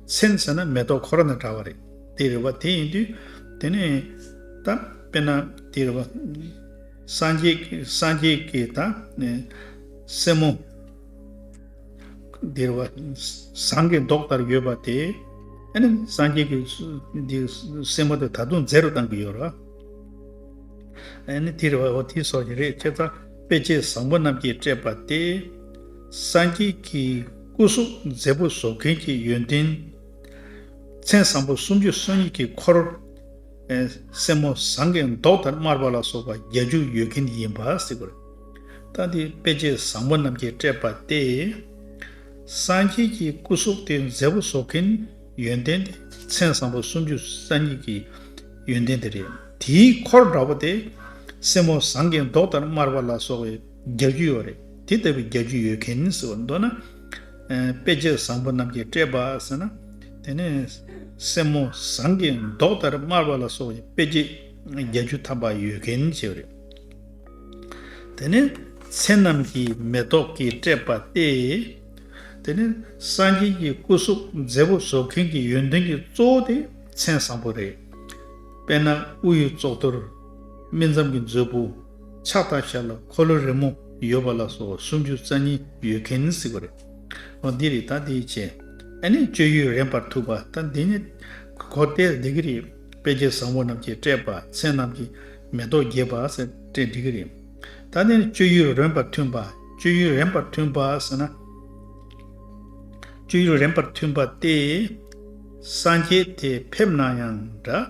མཚན་ཟེར་ན་མེ་ཏོག་ཁོ་ར་དང་འདྲ་བ་རེད། དེ་རེད་བ། དེ་ཡིན་དུས། དེ་ནས། ད། དཔེར་ན། དེ་རེད་བ། སངས་རྒྱས་ཀྱི། ད། སེན་མོ། དེ་རེད་བ། ཟངས་ཀྱི་མདོག་ལྟར་ཡོད་པ་དེ། ཨ་ནི། སངས་རྒྱས་ཀྱི། དེ། སེན་མོ་དེ་ད་དུང་མཛེས་རུ་བཏང་གི་ཡོད་རེད་བ། ཨ་ནི། དེ་རེད་བ། འོ་དེ་སོགས་ཀྱི་རེད་ཁྱེད་ལྟ། དཔེ་བྱད་བཟང་པོ་རྣམས་ཀྱིས་སྤྲས་པ་སྟེ། སངས་རྒྱས་ཀྱི་སྐུ་གཟུགས་མཛེས་པོ་བཟོ་མཁན་གྱི་ཡོན་ཏན། མཚན་བཟང་པོ་སུམ་ཅུ་སོ་གཉིས་ཀྱི་འཁོར། སེན་མོ་ཟངས་ཀྱི་མདོག་ལྟར་དམར་བ་ལ་སོགས་པ་བརྒྱད་ཅུ་ཡོད་མཁན་ཡིན་པ་གཟིགས་པར་བལྟ་སྟེ་དཔེ་བྱད་བཟང་པོ་རྣམས་ཀྱིས་སྤྲས་པ་སྟེ། སངས་རྒྱས་ཀྱི་སྐུ་གཟུགས་དེ་མཛེས་པོ་བཟོ་མཁན། ཡོན་ཏན། མཚན་བཟང་པོ་སུམ་ཅུ་རྩ་གཉིས་ཀྱི་ཡོན་ཏན་དེ་རེད། དེའི་འཁོར་འདྲ་བོ་དེ། སེན་མོ་ཟངས་ཀྱི་མདོག་ལྟར་དམར་བ་ལ་སོགས་བའི་རྒྱ་རྒྱུ་ཡོད་རེད། དེ་ལྟ་བུའི་རྒྱ་རྒྱུ་ཡོད་མཁན་ཟེར་བ་མདོར་ན། དཔེ་བྱད་བཟང་པོ་རྣམས་ཀྱིས་སྤྲས་པ་ཟེར་ན། དེ་ནི། སེན་མོ་ཟངས་ཀྱི་མདོག་ལྟར་དམར་བ་ལ་སོགས་བའི་དཔེ་བྱད་རྒྱ་རྒྱུ་དམ་པ་ཡོད་མཁན་ཞེས་པ་རེད། དེ་ནི། མཚན་རྣམས་ཀྱིས་མེ་ཏོག་གིས་སྤྲས་པ་སྟེ། དེ་ནི་སངས་རྒྱས་ཀྱི་སྐུ་གཟུགས་མཛེས་པོ་བཟོ་མཁན་གྱི་ཡོན་ཏན་གྱི་གཙོ་བོ་དེ་མཚན་བཟང་པོ་རེད། དཔེར་ན་དབུ་ཡི་ཙོག་ཐུར། སྨིན་མཚམས་ཀྱི་མཛོད་སྤུ། ཕྱག་དང་ཞབས་ལ་འཁོར་ལོ་རི་མོ་ཡོད་པ་ལ་སོགས་སུམ་ཅུ་རྩ་གཉིས་ཡོད་མཁན་ནི་སྲིད་པ་རེད། འོ་འདི་རིགས་དང་དེ་ཡི་ཆེད་ཨ་ནི་སྤྱོད་ཡུལ་རན་པར་ཐུག་པ་དང་འདི་ནི་གོ་བལྟས་འདི་གི་རེད་དཔེ་བྱད་བཟང་པོ་རྣམས་ཀྱིས་སྤྲས་པ་མཚན་རྣམས་ཀྱིས་མེ་ཏོག་རྒྱས་པ་སེ་སྤྲས་འགྲིག་གི་རེད། ད་ནི་སྤྱོད་ཡུལ་རན་པར་མཐུན་པ་སྤྱོད་ཡུལ་རན་པར་མཐུན་པ་ཟེར་ན། སྤྱོད་ཡུལ་རན་པར་མཐུན་པ་སྟེ། སངས་རྒྱས་དེ་ཕེབས་ན་ཡང་འདྲ།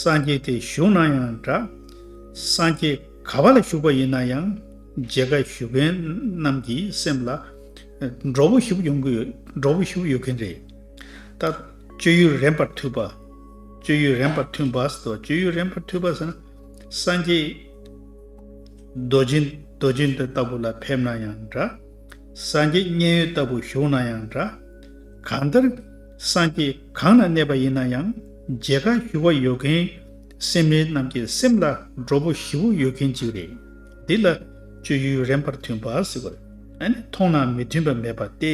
སངས་རྒྱས་དེ་བཞུགས་ན་ཡང་འདྲ། སངས་རྒྱས་ག་བ་ལ་བཞུགས་པ་ཡིན་ན་ཡང་མཇལ་ཁ་ཞུ་མཁན་རྣམས་ཀྱི་སེམས་ལ། འགྲོ་བོ་བཞུགས་ཡོང་གི་འགྲོ་བོ་བཞུགས་ཡོད་མཁན་རེད། ད་སྤྱོད་ཡུལ་རན་པར་མཐུན་པ་སྤྱོད་ཡུལ་རན་པར་མཐུན་པ་ཟེར་ཏོ་སྤྱོད་ཡུལ་རན་པར་མཐུན་པ་ཟེར་ན། སངས་རྒྱས། རྡོ་རྗེ། རྡོ་རྗེ་འདི་ལྟ་བུ་ལ་ཕེབས་ན་ཡང་འདྲ། སངས་རྒྱས་མཉན་ཡོད་ལྟ་བུ་བཞུགས་ན་ཡང་འདྲ། གང་ལྟར། སངས་རྒྱས་གང་ན་གནས་པ་ཡིན་ན་ཡང་མཇལ་ཁ་ཞུ་བ་ཡོད་མཁན་སེམས་ལས་རྣམས་ཀྱི་སེམས་ལ་སྒྲོ་བོ་བཞི་བོ་ཡོད་མཁན་ཅིག་རེད། འདི་ལ་སྤྱོད་ཡུལ་རན་པར་མཐུན་པ་ཟེར་བ། མཐོང་ན་མི་མཐུན་པ་མེད་པ་སྟེ།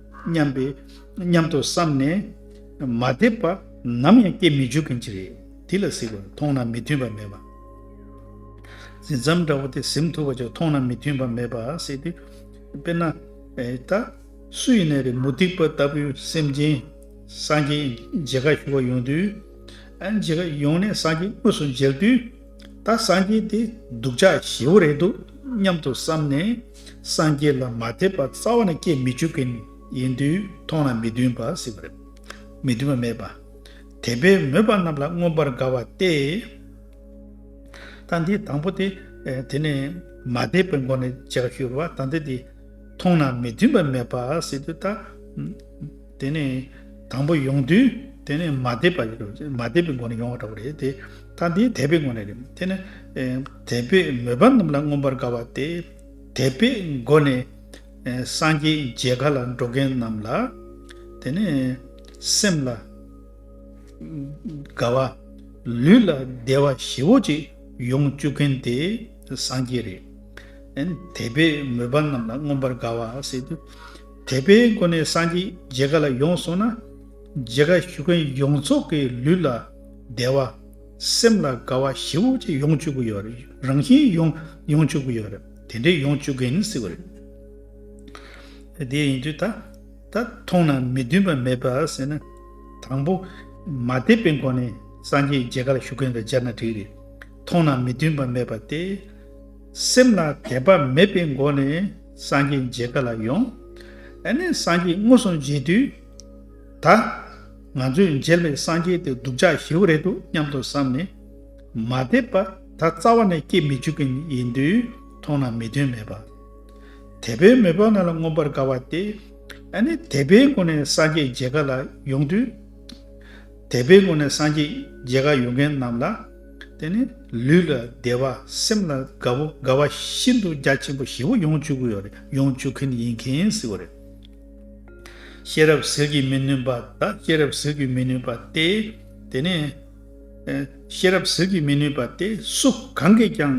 སྙམ་པའི་སྙམ་དུ་བསམས་ནས། མ་བདེ་བ་ནམ་ཡང་སྐྱེ་མི་འཇུག་གིན་ཅི་རེད་དེ་ལ་གཟིགས་པར་མཐོང་ན་མི་མཐུན་པ་མེད་པ། གཟི་མཚམས་འདྲ་བོ་དེ་གཟིམ་ཐུབ་པ་ཅིག་མཐོང་ན་མི་མཐུན་པ་མེད་པ་སྲིད་དེ། དཔེར་ན། ད་སུ་ཡིན་ན་རེ་མུ་སྟེགས་པ་ལྟ་བུའི་སེམས་ཅན། སངས་རྒྱས་མཇལ་ཁ་ཞུ་བར་ཡོང་དུས། མཇལ་ཁ་ཡོང་ནས་སངས་རྒྱས་དངོས་སུ་མཇལ་དུས། ད་སངས་རྒྱས་དེ་སྡུག་ཅག་བཞི་བོ་རེད་འདུག་སྙམ་དུ་བསམ་ནས། སངས་རྒྱས་ལ་མ་དད་པ་རྩ་བ་ནས་སྐྱེ་མི་བཅུག་གིན་ཡིན་དུས་མཐོང་ན་མི་མཐུན་པ་སྲིད་པ་རེད། མི་མཐུན་པ་མེད་པ། དད་པའི་མོས་པ་རྣམས་ལ་མངོན་པར་དགའ་བ་སྟེ། ད་འདི་དང་པོ་དེ། དེ་ནས་མ་དད་པའི་སྒོ་ནས་ལྗགས་བཞུར་བ་ད་འདི་དེ། མཐོང་ན་མི་མཐུན་པ་མེད་པ་སྲིད་དུས་ད། དེ་ནས་དང་པོ་ཡོངས་འདུས་དེ་ནས་མ་དད་པ་ཡོད་རེད་མ་དད་པའི་སྒོ་ནས་ཡོང་བ་འདྲ་བོ་རེད་དེ། ད་འདི་དད་པའི་སྒོ་ནས་རེད་དེ་ནི། དད་པས་མོས་པ་རྣམས་ལ་མངོན་པར་དགའ་བ་སྟེ། དད་པའི་སྒོ་ནས། སངས་རྒྱས་མཇལ་ཁ་ལ་འགྲོ་མཁན་རྣམས་ལ། དེ་ནི། སེམས་ལ། དགའ་བ། ལུས་ལ་བདེ་བ་བཞི་བོ་ཅིག་ཡོང་བཅུག་མཁན་དེ་སངས་རྒྱས་རེད། དད་པས་མོས་པ་རྣམས་ལ་མངོན་པར་དགའ་བ་སེ། དད་པའི་སྒོ་ནས་སངས་རྒྱས་རྗེ་ག་ལ་ཡོང་སོང་ན། རྗེ་ག་ཞུ་མཁན་ཡོངས་རྫོགས་ཀྱི་ལུས་ལ་བདེ་བ། སེམས་ལ་དགའ་བ་བཞི་བོ་ཅི་ཡོང་བཅུག་གི་ཡོད་རེད་རང་བཞིན་ཡོང་ཡོང་བཅུག་གི་ཡོད་རེད་དེ་འདྲས་ཡོང་བཅུག་གིན་སྲིད་པ་རེད། དེ་ཡིན་དུས་ད་ད་མཐོང་ན་མི་མཐུན་པ་མེད་པ་ཟེར་ན། དང་པོ། མ་དད་པའི་སྒོ་ནས་སངས་རྒྱས་རྗེ་ག་ལ་ཞུ་མཁན་ལ་སྦྱར་ན་འགྲིག་རེད། མཐོང་ན་མི་མཐུན་པ་མེད་པ་སྟེ། སེམས་ལ་དད་པ་མེད་པའི་སྒོ་ནས། སངས་རྒྱས་མཇལ་ག་ལ་ཡོང། ཨ་ནི་སངས་རྒྱས་སྔོ་སོང་མཇལ་དུས། ད། ང་ཚོས་མཇལ་བའི་སངས་རྒྱས་དེ་སྡུག་ཅག་ཞེ་བོ་རེད་འདུག་སྙམ་དུ་བསམ་ནས། མ་བསྡད་པ་ད་རྩ་བ་ནས་སྐྱེ་མི་འཇུག་གི་ཡིན་དུས་མཐོང་ན་མི་དོན་མེད་པ། དད་པའི་མོས་པ་ང་ལ་མངོན་པར་དགའ་བ་སྟེ། ཨ་ནི་དད་པའི་སྒོ་ནས་སངས་རྒྱས་མཇལ་ག་ལ་ཡོང་དུས། དད་པའི་སྒོ་ནས་སངས་རྒྱས་མཇལ་ག་ཡོང་མཁན་རྣམས་ལ། དེ་ནི་ལུས་ལ་བདེ་བ་སེམས་ལ་དགའ་བོ་དགའ་བ་ཤིན་ཏུ་རྒྱ་ཆེན་པོ་བཞི་བོ་ཡོང་བཅུག་གི་ཡོད་རེད་ཡོང་བཅུག་གིན་ཡིན་གིན་ཟིག་གོ་རེད། ཤེས་རབ་ཟིལ་གྱིས་མི་ནོན་པ་དག་ཤེས་རབ་ཟིལ་གྱིས་མི་ནོན་པ་སྟེ། དེ་ནི། ཤེས་རབ་ཟིལ་གྱིས་མི་ནོན་པ་སྟེ་སུ་གང་གིས་ཀྱང་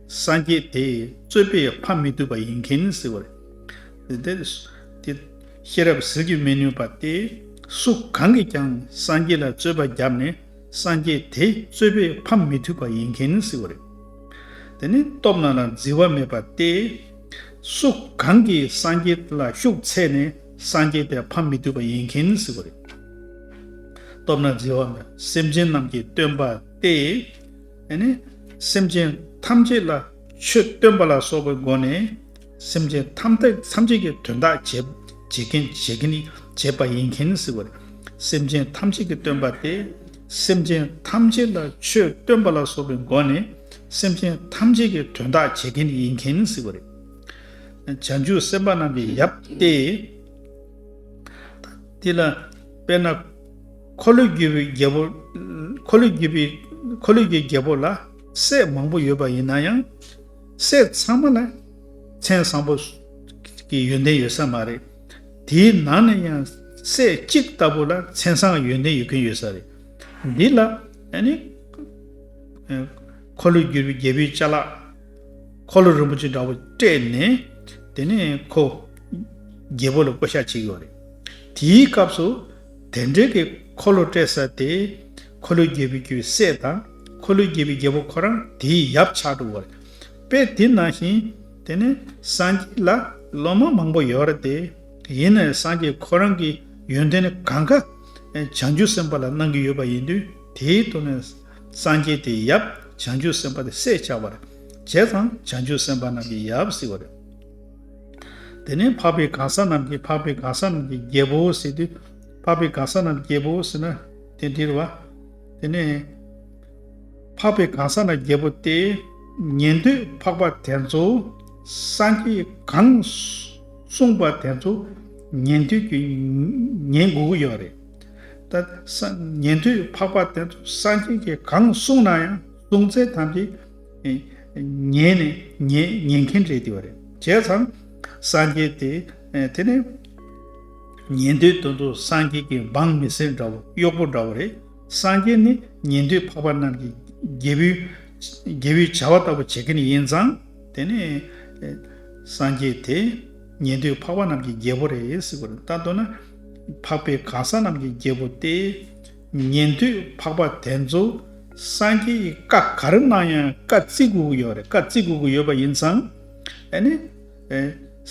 སངས་རྒྱས་དེའི་རྩོད་པས་ཕམ་མི་ཐུབ་པ་ཡིན་གིན་ཟིག་གོ་རེད། དེ། ཤེས་རབ་ཟིལ་གྱིས་མི་ནོན་པ་སྟེ་སུ་གང་གིས་ཀྱང་སངས་རྒྱས་ལ་རྩོད་པ་བརྒྱབ་ནས། སངས་རྒྱས་དེ་རྩོད་པས་ཕམ་མི་ཐུབ་པ་ཡིན་མཁན་ནི་སྲིད་པ་རེད། དེ་ནི་སྟོབས་ན་ལ་བརྫི་བ་མེད་པ་སྟེ། སུ་གང་གིས་སངས་རྒྱས་དེ་ལ་ཤུགས་ཚད་ནས་སངས་རྒྱས་དེ་ཕམ་མི་ཐུབ་པ་ཡིན་མཁན་ནི་སྲིད་པ་རེད། སྟོབས་ན་བརྫི་བ་མེད་སེམས་ཅན་རྣམས་ཀྱི་སྟོན་པ་སྟེ། དེ་ནི་སེམས་ཅན་ཐམས་ཅད་ལ་ཆོས་སྟོན་པ་ལ་སོགས་པའི་སྒོ་ནས། སེམས་ཅན་ཐམས་ཅད་ཐམས་ཅད་ཀྱི་དོན་དག་བྱེད། བྱེད་མཁན་བྱེད་མཁན་ནི་བྱེད་པ་ཡིན་མཁན་ཟེར་བ། སེམས་ཅན་ཐམས་ཅད་ཀྱི་སྟོན་པ་སྟེ། སེམས་ཅན་ཐམས་ཅད་ལ་ཆོས་སྟོན་པ་ལ་སོགས་པའི་སྒོ་ནས་སེམས་ཅན་ཐམས་ཅད་ཀྱི་དོན་དག་བྱེད་མཁན་ཡིན་མཁན་ཟེར་བ་རེད། བྱང་ཆུབ་སེམས་དཔའ་རྣམས་ཀྱི་ཡབ་སྟེ། དེ་ལ་དཔེར་ན། འཁོར་ལོས་བསྒྱུར་བའི་རྒྱལ་པོ། འཁོར་ལོས་བསྒྱུར་བའི། འཁོར་ལོས་བསྒྱུར་བའི་རྒྱལ་པོ་ལ་སྲས་མང་པོ་ཡོད་པ་ཡིན་ན་ཡང། སྲས་ཚང་མ་ལ་མཚན་བཟང་པོ་གི་ཡོན་ཏན་ཡོད་ས་མ་རེད། དེའི་ནང་ནས་ཡང་སྲས་གཅིག་ལྟ་བུ་ལ་མཚན་བཟང་གི་ཡོན་ཏན་ཡོད་མཁན་ཡོད་ས་རེད། འདི་ལ་འཁོར་ལོས་བསྒྱུར་བའི་རྒྱལ་པོའི་བཅའ་ལག་འཁོར་ལོ་རིན་པོ་ཆེ་འདྲ་བོ་སྤྲད་ནས་དེ་ནས་ཁོ་རྒྱལ་པོ་ལ་བསྐོ་བཞག་བྱེད་ཀྱི་ཡོད་རེད། དེའི་སྐབས་སུ། དེ་འབྲེལ་གྱི་འཁོར་ལོ་སྤྲད་ས་དེ། འཁོར་ལོའི་རྒྱལ་པོའི་རྒྱུའི་སྲས་དང། འཁོར་ལོའི་རྒྱལ་པོའི་རྒྱལ་པོ་ཁོ་རང་དེའི་ཡབ་ཆགས་གྲུབ་བར། དཔེ་དེ་ནང་བཞིན། དེ་ནས་སངས་རྒྱས་ལ་སློབ་མ་མང་པོ་ཡོད་རེད་དེ། ཡིན་ནའི་སངས་རྒྱས་ཁོ་རང་གི་ཡོན་ཏན་ནི་གང་གཱ། བྱང་ཆུབ་སེམས་དཔའ་ལ་གནང་གི་ཡོད་པ་ཡིན་དུས་དེའི་ཐོག་ནས། སངས་རྒྱས་དེའི་ཡབ་བྱང་ཆུབ་སེམས་དཔའ་དེ་སྲས་ཆགས་པར། བྱས་ཙང་བྱང་ཆུབ་སེམས་དཔའ་རྣམས་ཀྱི་ཡབ་སྲིད་བར། དེ་ནས་འཕགས་པའི་གང་ཟག་རྣམས་ཀྱིས་འཕགས་པའི་གང་ཟག་རྣམས་ཀྱི་རྒྱལ་པོའོ་ཟེར་ཏེ། འཕགས་པའི་གང་ཟག་རྣམས་ཀྱི་རྒྱལ་པོའོ་ཟེར་ན་དེ་འདྲིར་བ། དེ་ནས། འཕགས་པའི་གང་ཟག་རྣམས་ཀྱི་རྒྱལ་པོ་སྟེ། ཉན་ཐོས་འཕགས་པ་དེ་ཚོ། སངས་རྒྱས་གང། གསུངས་པ་དེ་ཚོ། ཉན་ཐོས་ཀྱི། ཉན་དགོས་ཀྱི་ཡོད་རེད། ད། ཉན་ཐོས་འཕགས་པ་དེ་ཚོ་སངས་རྒྱས་ཀྱིས་གང་གསུངས་ན་ཡང་གསུང་ཚད་ཐམས་ཅད། ཉན་ནས་ཉན་མཁན་རེད་འདི་བ་རེད་བྱས་ཙང། སངས་རྒྱས་དེ་དེ་ནས། ཉན་ཐོས་དོན་དུ་སངས་རྒྱས་ཀྱི་འབངས་མི་སེར་འདྲ་བོ་གཡོག་པོ་འདྲ་བོ་རེད་སངས་རྒྱས་ནི་ཉན་ཐོས་འཕགས་པ་རྣམས་ཀྱི་རྒྱལ་བོའི་བྱ་བ་ལྟ་བུ་བྱེད་མཁན་ཡིན་ཙང། དེ་ནས། སངས་རྒྱས་དེ་ཉན་ཐོས་འཕགས་པ་རྣམས་ཀྱི་རྒྱལ་བོ་རེད་ཟེར་བ་རེད་ལྟ་འདོད་ན། འཕགས་པའི་གང་ཟག་རྣམས་ཀྱི་རྒྱལ་བོ་སྟེ། ཉན་ཐོས་འཕགས་པ་དེ་ཚོ་སངས་རྒྱས་ཀྱི་བཀའ་ག་རེ་གནང་ཡང་བཀའ་བརྩི་དགོས་ཀྱི་ཡོད་རེད་བཀའ་བརྩི་དགོས་ཀྱི་ཡོད་པ་ཡིན་ཙང་ཨེ་ནི།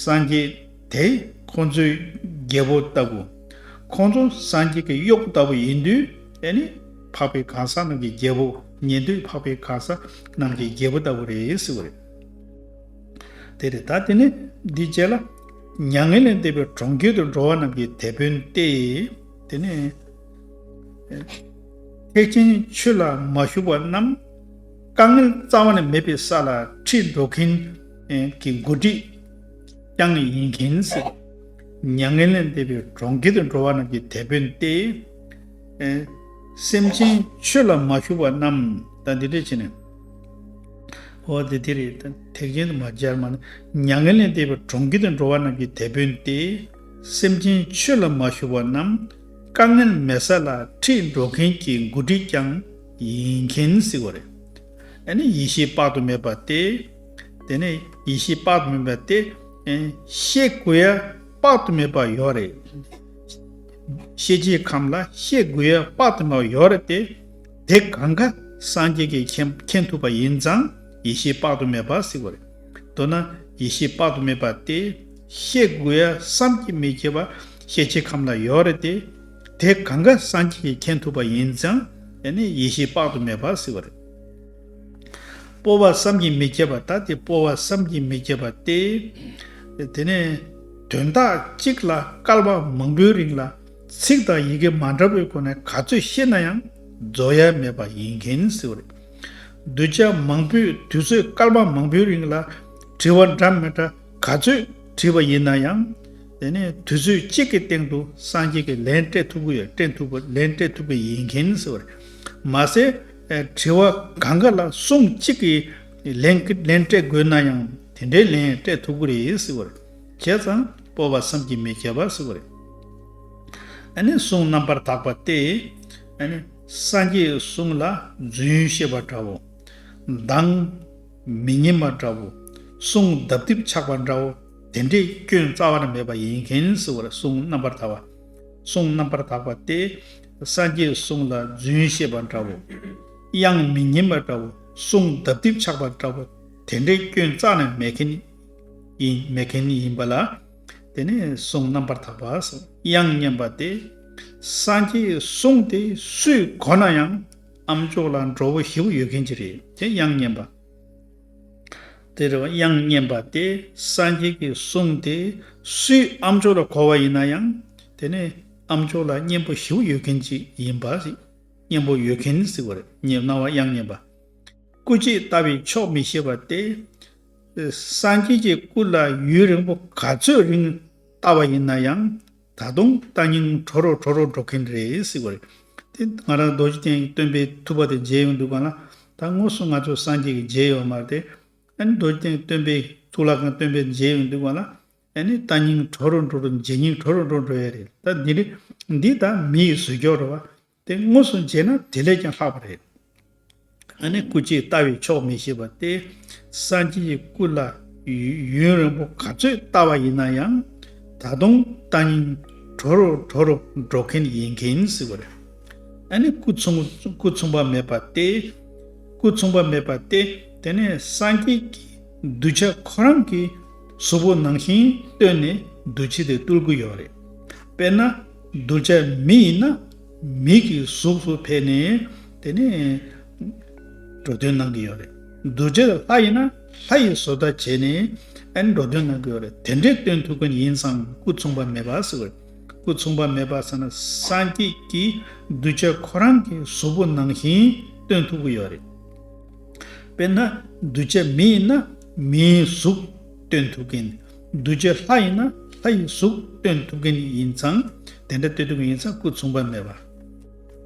སངས་རྒྱས་དེ་ཁོང་ཚོའི་རྒྱལ་པོ་ལྟ་བུ། ཁོང་ཚོ་སངས་རྒྱས་ཀྱི་གཡོག་ལྟ་བུ་ཡིན་དུས་ཨེ་ནི། འཕགས་པའི་གང་ཟག་རྣམས་ཀྱི་རྒྱལ་པོ་ཉན་ཐོས་འཕགས་པའི་གང་ཟག་རྣམས་ཀྱི་རྒྱལ་པོ་ལྟ་བུ་རེད་ཟེར་བ་རེད། དེ་རེད་ད་དེ་ནས་འདི་བྱས་ལ། མྱ་ངན་ལས་འདས་པའི་གྲོང་ཁྱེར་དུ་འགྲོ་བ་རྣམས་ཀྱི་དེད་དཔོན་ཏེ། དེ་ནས། ཐེག་ཆེན་ཆོས་ལ་མ་ཞུགས་པ་རྣམས་དཀའ་ངལ་རྩ་བ་ནས་མེད་པའི་ས་ལ་ཁྲིད་འགྲོ་མཁན་གྱི་མགོ་ཁྲིད་རྐྱང་ཡིན་མཁན་སྲིད། མྱ་ངན་ལས་འདས་པའི་གྲོང་ཁྱེར་དུ་འགྲོ་བ་རྣམས་ཀྱི་དེད་དཔོན་ཏེ། སེམས་ཅན་ཆོས་ལ་མ་ཞུགས་པ་རྣམས་ད་འདི་འདྲས་བྱས་ནས། འོ་དེ་དེ་རེད་ད་ཐེག་ཆེན་དུ་མ་སྦྱར་མ་ནི་མྱ་ངན་ལས་འདས་པའི་གྲོང་ཁྱེར་དུ་འགྲོ་བ་རྣམས་ཀྱི་དེད་དཔོན་ཏེ། སེམས་ཅན་ཆོས་ལ་མ་ཞུགས་པ་རྣམས། དཀའ་ངལ་མེད་ས་ལ་ཁྲིད་འགྲོ་མཁན་གྱི་འགོ་ཁྲིད་ཀྱང་ཡིན་མཁན་གཟིགས་བ་རེད། ཨ་ནི་ཡིད་ཤེས་དཔག་ཏུ་མེད་པ་སྟེ། དེ་ནས་ཡིད་ཤེས་དཔག་ཏུ་མེད་པ་སྟེ། ཤེས་དགོས་ཡ་དཔག་ཏུ་མེད་པ་ཡོད་རེད། ཤེས་བྱའི་ཁམས་ལ་ཤེས་དགོས་ཡ་དཔག་ཏུ་མེད་པ་ཡོད་རེད་དེ། དེ་གང་ག་སངས་རྒྱས་ཀྱི་མཁྱེན་ཐུབ་པ་ཡིན་ཙང་ཡིད་ཤེས་དཔག་ཏུ་མེད་པ་གཟིགས་བ་རེད། མདོར་ན་ཡེ་ཤེས་དཔག་ཏུ་མེད་པ་སྟེ། ཤེས་དགོས་ཡ་བསམ་གྱིས་མི་ཁྱབ་པ་ཤེས་བྱའི་ཁམས་ལ་ཡོད་རེད་དེ། དེ་གང་ག་སངས་རྒྱས་ཀྱིས་མཁྱེན་ཐུབ་པ་ཡིན་ཙང་ཡང་ནི་ཡེ་ཤེས་དཔག་ཏུ་མེད་པར་གཟིགས་པ་རེད། སྤོ་བ་བསམ་གྱིས་མི་ཁྱབ་པ་ད་དེ་སྤོ་བ་བསམ་གྱིས་མི་ཁྱབ་པ་སྟེ། དེ་ནས་དོན་དག་གཅིག་ལ་སྐལ་བ་མང་པོའི་རིང་ལ་ཚིག་དང་ཡི་གེ་མ་འདྲ་བས་ཁོ་ནས་ག་ཚོད་ཤེས་ན་ཡང་རྫོགས་ཡ་མེད་པ་ཡིན་མཁན་གཟིགས་པ་རེད། གདུལ་བྱ་མང་པོས་དུས་ཚོད་སྐར་མ་མང་པོའི་རིང་ལ་དྲི་བ་འདྲ་མི་འདྲ་ག་ཚོད་དྲིས་པ་ཡིན་ན་ཡང། དེ་ནས་དུས་ཚོད་གཅིག་གི་སྟེང་དུ་སངས་རྒྱས་ཀྱི་ལན་སྤྲད་ཐུབ་གི་ཡོད་སྤྲད་ཐུབ་པ་ལན་སྤྲད་ཐུབ་ཀྱི་ཡིན་གྱིན་ཟེར་བ་རེད། མ་ཟད་དྲི་བ་གང་ག་ལ་གསུང་གཅིག་གིས་ལན་ལན་སྤྲད་དགོས་ན་ཡང་དེ་འདྲའི་ལན་སྤྲད་ཐུབ་ཀྱི་རེད་ཟེར་བ་རེད། བྱས་ཙང་སྤོབས་པ་བསམ་གྱིས་མི་ཁྱབ་པ་ཟེར་བ་རེད། གསུང་རྣམ་པར་དག་པ་སྟེ། སངས་རྒྱས་གསུང་ལ་རྫུན་བཤད་པ་འདྲ་བོ། མདང། མི་སྙན་པ་འདྲ་བོ། གསུང་ལྡབ་ལྡིབ་ཆགས་པ་འདྲ་བོ། དེ་འདྲའི་སྐྱོན་རྩ་བར་མེད་པ་ཡིན་མཁན་སུ་བར་གསུང་རྣམ་པར་དག་པ། གསུང་རྣམ་པར་དག་པ་སྟེ། སངས་རྒྱས་གསུང་ལ་རྫུན་བཤད་པ་འདྲ་བོ། དབྱངས་མི་སྙན་པ་འདྲ་བོ། གསུང་ལྡབ་ལྡིབ་ཆགས་པ་འདྲ་བོ། དེ་འདྲའི་སྐྱོན་རྩ་ནས་མེད་མཁན། ཡིན་མཁན་ཡིན་པ་ལ། དེ་ནས་གསུང་རྣམ་པར་དག་པ་དབྱངས་སྙན་པ་སྟེ། སངས་རྒྱས་གསུང་དེ་སུའི་གོ་ན་ཡང། ཨམ་ཅོག་ལ་འགྲོ་བོ་ཞི་བོ་ཡོད་མཁན་གྱི་རེད་དེ་དབྱངས་སྙན་པ། དེ་རེད་བ་དབྱངས་སྙན་པ་སྟེ་སངས་རྒྱས་ཀྱི་གསུང་དེ་སུའི་ཨམ་ཅོག་ལ་གོ་བ་ཡིན་ན་ཡང། དེ་ནས་ཨམ་ཅོག་ལ་སྙན་པོ་ཞི་བོ་ཡོད་མཁན་གྱི་ཡིན་པ། སྙན་པོ་ཡོད་མཁན་ཟེར་བ་རེད་སྙན་བ་དབྱངས་སྙན་པ། སྐུ་རྗེས་ལྟ་བའི་ཕྱོགས་མི་ཤེས་པ་སྟེ། སངས་རྒྱས་ཀྱི་སྐུ་ལ་ཡུན་རིང་པོ་ག་ཚོད་རིང་ལྟ་བ་ཡིན་ན་ཡང་ད་དུང་ལྟ་སྙིང་གྲོ་རོ་གྲོ་རོ་འགྲོ་གིན་རེད་ཟེར་བ་རེད། དེ་ང་རང་རྡོ་རྗེ་གདན་གྱི་སྟོན་པའི་ཐུགས་པ་དེ་མཇལ་ཡོང་འདུག་པ་ན་ད་དངོས་སུ་ང་ཚོ་སངས་རྒྱས་ཀྱི་མཇལ་ཡོང་མར་དེ་ཨ་ནི་རྡོ་རྗེ་གདན་གྱི་སྟོན་པའི་ཐུགས་ལ་གང་སྟོན་པའི་མཇལ་ཡོང་འདུག་པ་ན་ཨ་ནི་ལྟ་སྙིང་གྲོ་རོ་འགྲོ་རུ་མཇལ་སྙིང་གྲོ་རོ་འགྲོ་འགྲོ་ཡ་རེད་ད་འདི་འདྲའི་འདི་ད་མི་ཡི་ཟོལ་རྒྱོགས་རོ་བ་དེ་དངོས་སུ་མཇལ་ན་དེ་ལས་ཀྱང་ལྷག་པ་རེད། ཨ་ནེ་སྐུ་སྐྱེས་ལྟ་བས་ཆོག་མི་ཤེས་པ་སྟེ། སངས་རྒྱས་ཀྱི་སྐུ་ལ་ཡུན་རིང་པོ་ག་ཚོད་ལྟ་བ་ཡིན་ན་ཡང། ད་དུང་ལྟ་ཉིན་གྲོ་རུ་གྲོ་རུ་འགྲོ་མཁན་ཡིན་མཁན་ཟེར་བ་རེད། ཨ་ནེ་སྐུ་མཚུངས་པ་མེད་པ་སྟེ། སྐུ་མཚུངས་པ་མེད་པ་སྟེ་དེ་ནས་སངས་རྒྱས་ཀྱི་གདུལ་བྱ་ཁོ་རང་གི་གཟུགས་པོ་ནང་བཞིན་བཏོན་ནས་གདུལ་བྱ་དེ་བཏུལ་གྱི་ཡོད་རེད། དཔེར་ན། གདུལ་བྱ་མི་ཡིན་ན། མིག་གི་གཟུགས་སུ་ཕལ་ནས། དེ་ནི། འགྲོ་དོན་གནང་གི་ཡོད་རེད། གདུལ་བྱ་ལྷ་ཡིན་ན། ལྷ་ཡི་བཟོ་ལྟ་བྱས་ནས། ཨ་ནི་འགྲོ་དོན་གནང་གི་ཡོད་རེད་དེ་འདྲའི་སྟོན་ཐུབ་མཁན་ཡིན་ཙང་སྐུ་མཚུངས་པ་མེད་པ་ཟེར་བས། སྐུ་མཚུངས་པ་མེད་པ་ཟེར་ན་སངས་རྒྱས་ཀྱི་གདུལ་བྱ་ཁོ་རང་གི་གཟུགས་པོ་ནང་བཞིན་སྟོན་ཐུབ་ཀྱི་ཡོད་རེད། དཔེར་ན། གདུལ་བྱ་མི་ཡིན་ན། མིའི་གཟུགས་སྟོན་ཐུབ་མཁན། གདུལ་བྱའི་ལྷ་ཡིན་ན་ལྷ་ཡི་གཟུགས་སྟོན་ཐུབ་མཁན་ཡིན་ཙང་དེ་འདྲ་སྟོན་ཐུབ་མཁན་ཡིན་ཙང་སྐུ་མཚུངས་པ་མེད་པ།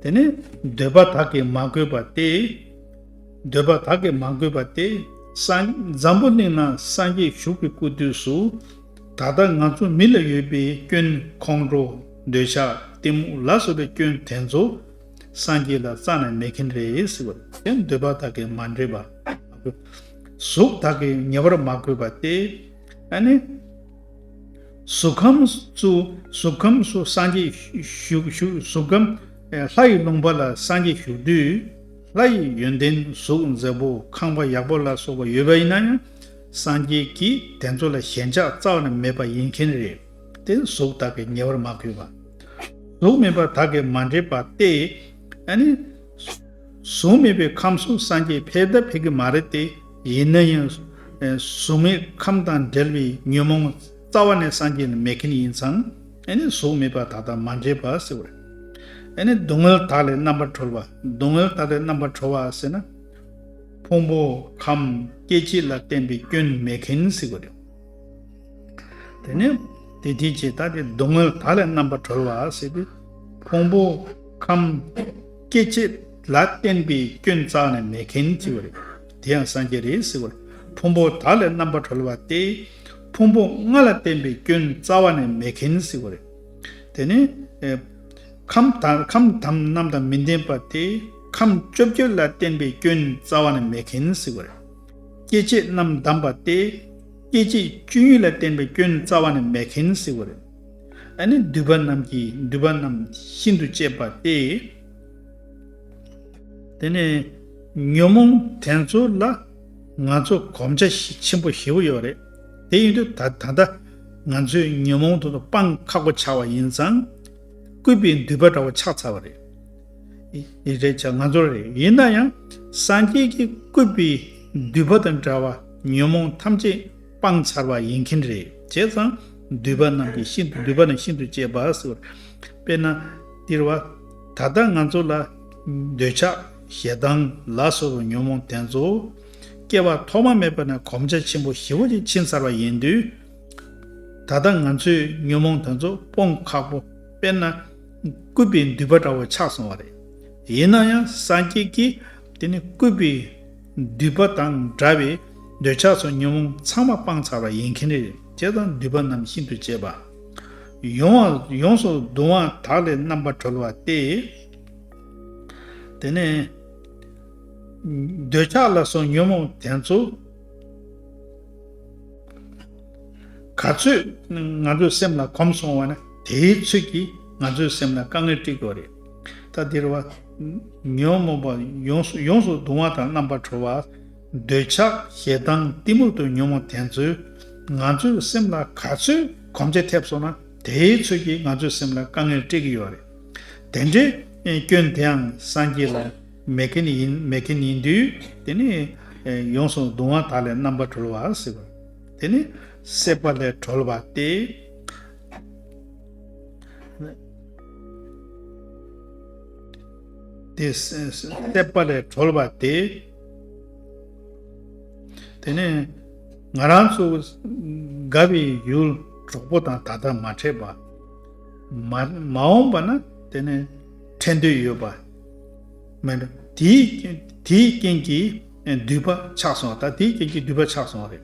དེ་ནི་འདོད་པ་དག་གིས་མ་གོས་པ་སྟེ། འདོད་པ་དག་གིས་མ་གོས་པ་སྟེ། འཛམ་བུ་གླིང་ན་སངས་རྒྱས་བཞུགས་པའི་སྐུ་དུས་སུ། ད་ལྟ་ང་ཚོ་མི་ལ་ཡོད་པའི་སྐྱོན་ཁོང་ཁྲོ་འདོད་ཆགས་གཏི་མུག་ལ་སོགས་པའི་སྐྱོན་དེ་ཚོ་སངས་རྒྱས་ལ་རྩ་ནས་མེད་མཁན་རེད་ཟེར་བ་དེ་འདོད་པ་དག་གིས་མ་འདྲེས་པ། གཟུགས་དག་གིས་ཉེ་བར་མ་གོས་པ་སྟེ། ཨ་ནི། གཟུགས་ཁམས་སུ་གཟུགས་ཁམས་སུ་སངས་རྒྱས་བཞུགས། གཟུགས་ཁམས་ལྷ་ཡི་ལུང་པ་ལ་སངས་རྒྱས་བཞུགས་དུས། ལྷ་ཡི་ཡོན་ཏན་གཟུགས་མཛེས་པོ་ཁང་པ་ཡག་པོ་ལ་སོགས་པ་ཡོད་པ་ཡིན་ན་ཡང། སངས་རྒྱས་ཀྱིས་དེ་ཚོ་ལ་ཞེན་ཆགས་རྩ་བ་ནས་མེད་པ་ཡིན་མཁན་རེད་དེ། གཟུགས་དག་གིས་ཉེ་བར་མ་གོས་པ། གཟུགས་མིན་པ་དག་གིས་མ་འདྲེས་པ་སྟེ། ཨ་ནི། གཟུགས་མེད་པའི་ཁམས་སུ་སངས་རྒྱས་ཕེབས་ད་ཕེབས་ཀྱི་མ་རེད་དེ། ཡིན་ན་ཡང། གཟུགས་མེད་ཁམས་དང་འབྲེལ་བའི་ཉོན་མོངས་རྩ་བ་ནས་སངས་རྒྱས་ནི་མེད་མཁན་ཡིན་ཙང། ཨེ་ནི་གཟུགས་མེད་པ་དག་དང་མ་འབྲེལ་བར་ཟེར་བ་རེད། ཨེ་ནི་སྡུག་བསྔལ་དག་ལས་རྣམ་པར་གྲོལ་བ། སྡུག་བསྔལ་དག་ལས་རྣམ་པར་གྲོལ་བ་ཟེར་ན། ཕུང་པོ་ཁམས་སྐྱེ་མཆེད་ལ་བརྟེན་པའི་སྐྱོན་མེད་མཁན་ཟེར་བ་རེད། དེ་ནི། དེ་དེའི་ཕྱིར་ད་དེ་སྡུག་བསྔལ་དག་ལས་རྣམ་པར་གྲོལ་བ་ཟེར་ཏེ། ཕུང་པོ་ཁམས། སྐྱེ་མཆེད་ལ་བརྟེན་པའི་སྐྱོན་རྩག་ནས་མེད་མཁན་གྱི་བ་རེད། དེ་ཡང་སངས་རྒྱས་རེད་ཟེར་བ་ལ་ཕུང་པོ་དག་ལས་རྣམ་པར་གྲོལ་བ་སྟེ། ཕུང་པོ་ལྔ་ལ་བརྟེན་པའི་སྐྱོན་རྩ་བ་ནས་མེད་མཁན་ཟེར་བ་རེད། དེ་ནི། ཁམས་དང་རྣམས་དང་མི་ལྡན་པ་སྟེ། ཁམས་བཅོ་བརྒྱད་ལ་བརྟེན་པའི་སྐྱོན་རྩ་བ་ནས་མེད་མཁན་ཟེར་བ་རེད། སྐྱེ་མཆེད་རྣམས་བསྡམས་པ་སྟེ། སྐྱེ་མཆེད་བཅུ་གཉིས་ལ་བརྟེན་པའི་སྐྱོན་རྩ་བ་ནས་མེད་མཁན་ཟེར་བ་རེད། ཨ་ནི་འདུས་པ་རྣམས་ཀྱི་འདུས་པ་རྣམས་ཤིན་ཏུ་གཅེས་པ་སྟེ། དེ་ནས་ཉོན་མོངས་དེ་ཚོ་ལ་ང་ཚོ་གོམས་ཆ་ཆེན་པོ་ཞེ་པོ་ཡོད་རེད། དེ་ཡིན་དུས་ད་ད་ལྟ་ང་ཚོས་ཉོན་མོངས་དེ་ཚོ་སྤང་ཁག་པོ་ཆགས་པ་ཡིན་ཙང། སྐུད་པའི་མདུད་པ་འདྲ་བོ་ཆགས་ཚར་བ་རེད། རེད་ཆ་ང་ཚོར་རེད། ཡིན་ན་ཡང་སངས་རྒྱས་ཀྱི་སྐུད་པའི་མདུད་པ་དང་འདྲ་བ་ཉོན་མོངས་ཐམས་ཅད་སྤངས་ཚར་བ་ཡིན་གྱིན་རེད་བྱས་ཙང། འདུས་པ་རྣམས་ཀྱིས་ཤིན་ཏུ་འདུས་པ་ནི་ཤིན་ཏུ་གཅེས་པ་ཟེར་བར། དཔེར་ན། སྟེར་བ། ད་ལྟ་ང་ཚོ་ལ། འདོད་ཆགས། ཞེ་སྡང། ལ་སོགས་པའི་ཉོན་མོངས་དེ་ཚོ། སྐྱེ་བ་ཐོག་མ་མེད་པ་ནས་གོམས་ཆ་ཆེན་པོ་བཞི་བོ་ཅིག་ཕྱིན་ཚར་བ་ཡིན་དུས། ད་ལྟ་ང་ཚོས་ཉོན་མོངས་དེ་ཚོ་སྤོང་ཁག་པོ། དཔེར་ན། སྐུད་པའི་མདུད་པ་འདྲ་བོ་ཆགས་སོང་བ་རེད། ཡིན་ན་ཡང་སངས་རྒྱས་ཀྱིས། དེ་ནི་སྐུད་པའི། འདུས་པ་དང་འདྲ་བའི་འདོད་ཆགས་སོགས་ཉོན་མོངས་ཚང་མ་སྤངས་ཚར་བ་ཡིན་མཁན་རེད་ཅེས་དང་འདུས་པ་རྣམས་ཤིན་ཏུ་གཅེས་པ། ཡོངས་སུ་གདུང་བ་དག་ལས་རྣམ་པར་གྲོལ་བ་སྟེ། དེ་ནས། འདོད་ཆགས་ལ་སོགས་ཉོན་མོངས་དེ་ཚོ། ག་ཚོད་ང་ཚོའི་སེམས་ལ་གོམས་སོང་བ་ན་དེའི་ཚོད་ཀྱིས་ང་ཚོའི་སེམས་ལ་དཀའ་ངལ་སྤྲད་དགོས་རེད། ད་འདིར་བ། ཉོན་མོངས་པ་ཡོངས་སུ་ཡོངས་སུ་གདུང་བ་དང་རྣམ་པར་གྲོལ་བ། འདོད་ཆགས་ཞེ་སྡང་གཏི་མུག་ཏུ་ཉོན་མོངས་དེ་ཚོས་ང་ཚོའི་སེམས་ལ་ག་ཚོད་གོམས་ཆེ་ཐེབས་སོང་ན་དེའི་ཚོད་ཀྱིས་ང་ཚོའི་སེམས་ལ་དཀའ་ངལ་སྤྲད་ཀྱི་ཡོད་རེད། དེ་འདྲའི་སྐྱོན་དེའང་སངས་རྒྱས་ལ་མེད་མཁན་ཡིན་མེད་མཁན་ཡིན་དུས་དེ་ནི། ཡོངས་སུ་གདུང་བ་དག་ལས་རྣམ་པར་གྲོལ་བ། དེ་ནི། སྲེད་པ་ལས་གྲོལ་བ་སྟེ། དེ་སྲེད་པ་ལས་གྲོལ་བ་དེ་དེ་ནས་ང་རང་ཚོ་དགའ་བའི་ཡུལ་གྲོགས་པོ་དང་ད་ལྟ་མ་འཕྲད་པ་མ་འོངས་པ་ན་དེ་ནས་འཕྲད་འདོད་ཡོད་པ་མེད་པ་དེའི་རྐྱེན་གྱིས་མདུད་པ་ཆགས་སོང་ད་དེའི་རྐྱེན་གྱིས་མདུད་པ་ཆགས་སོང་རེད།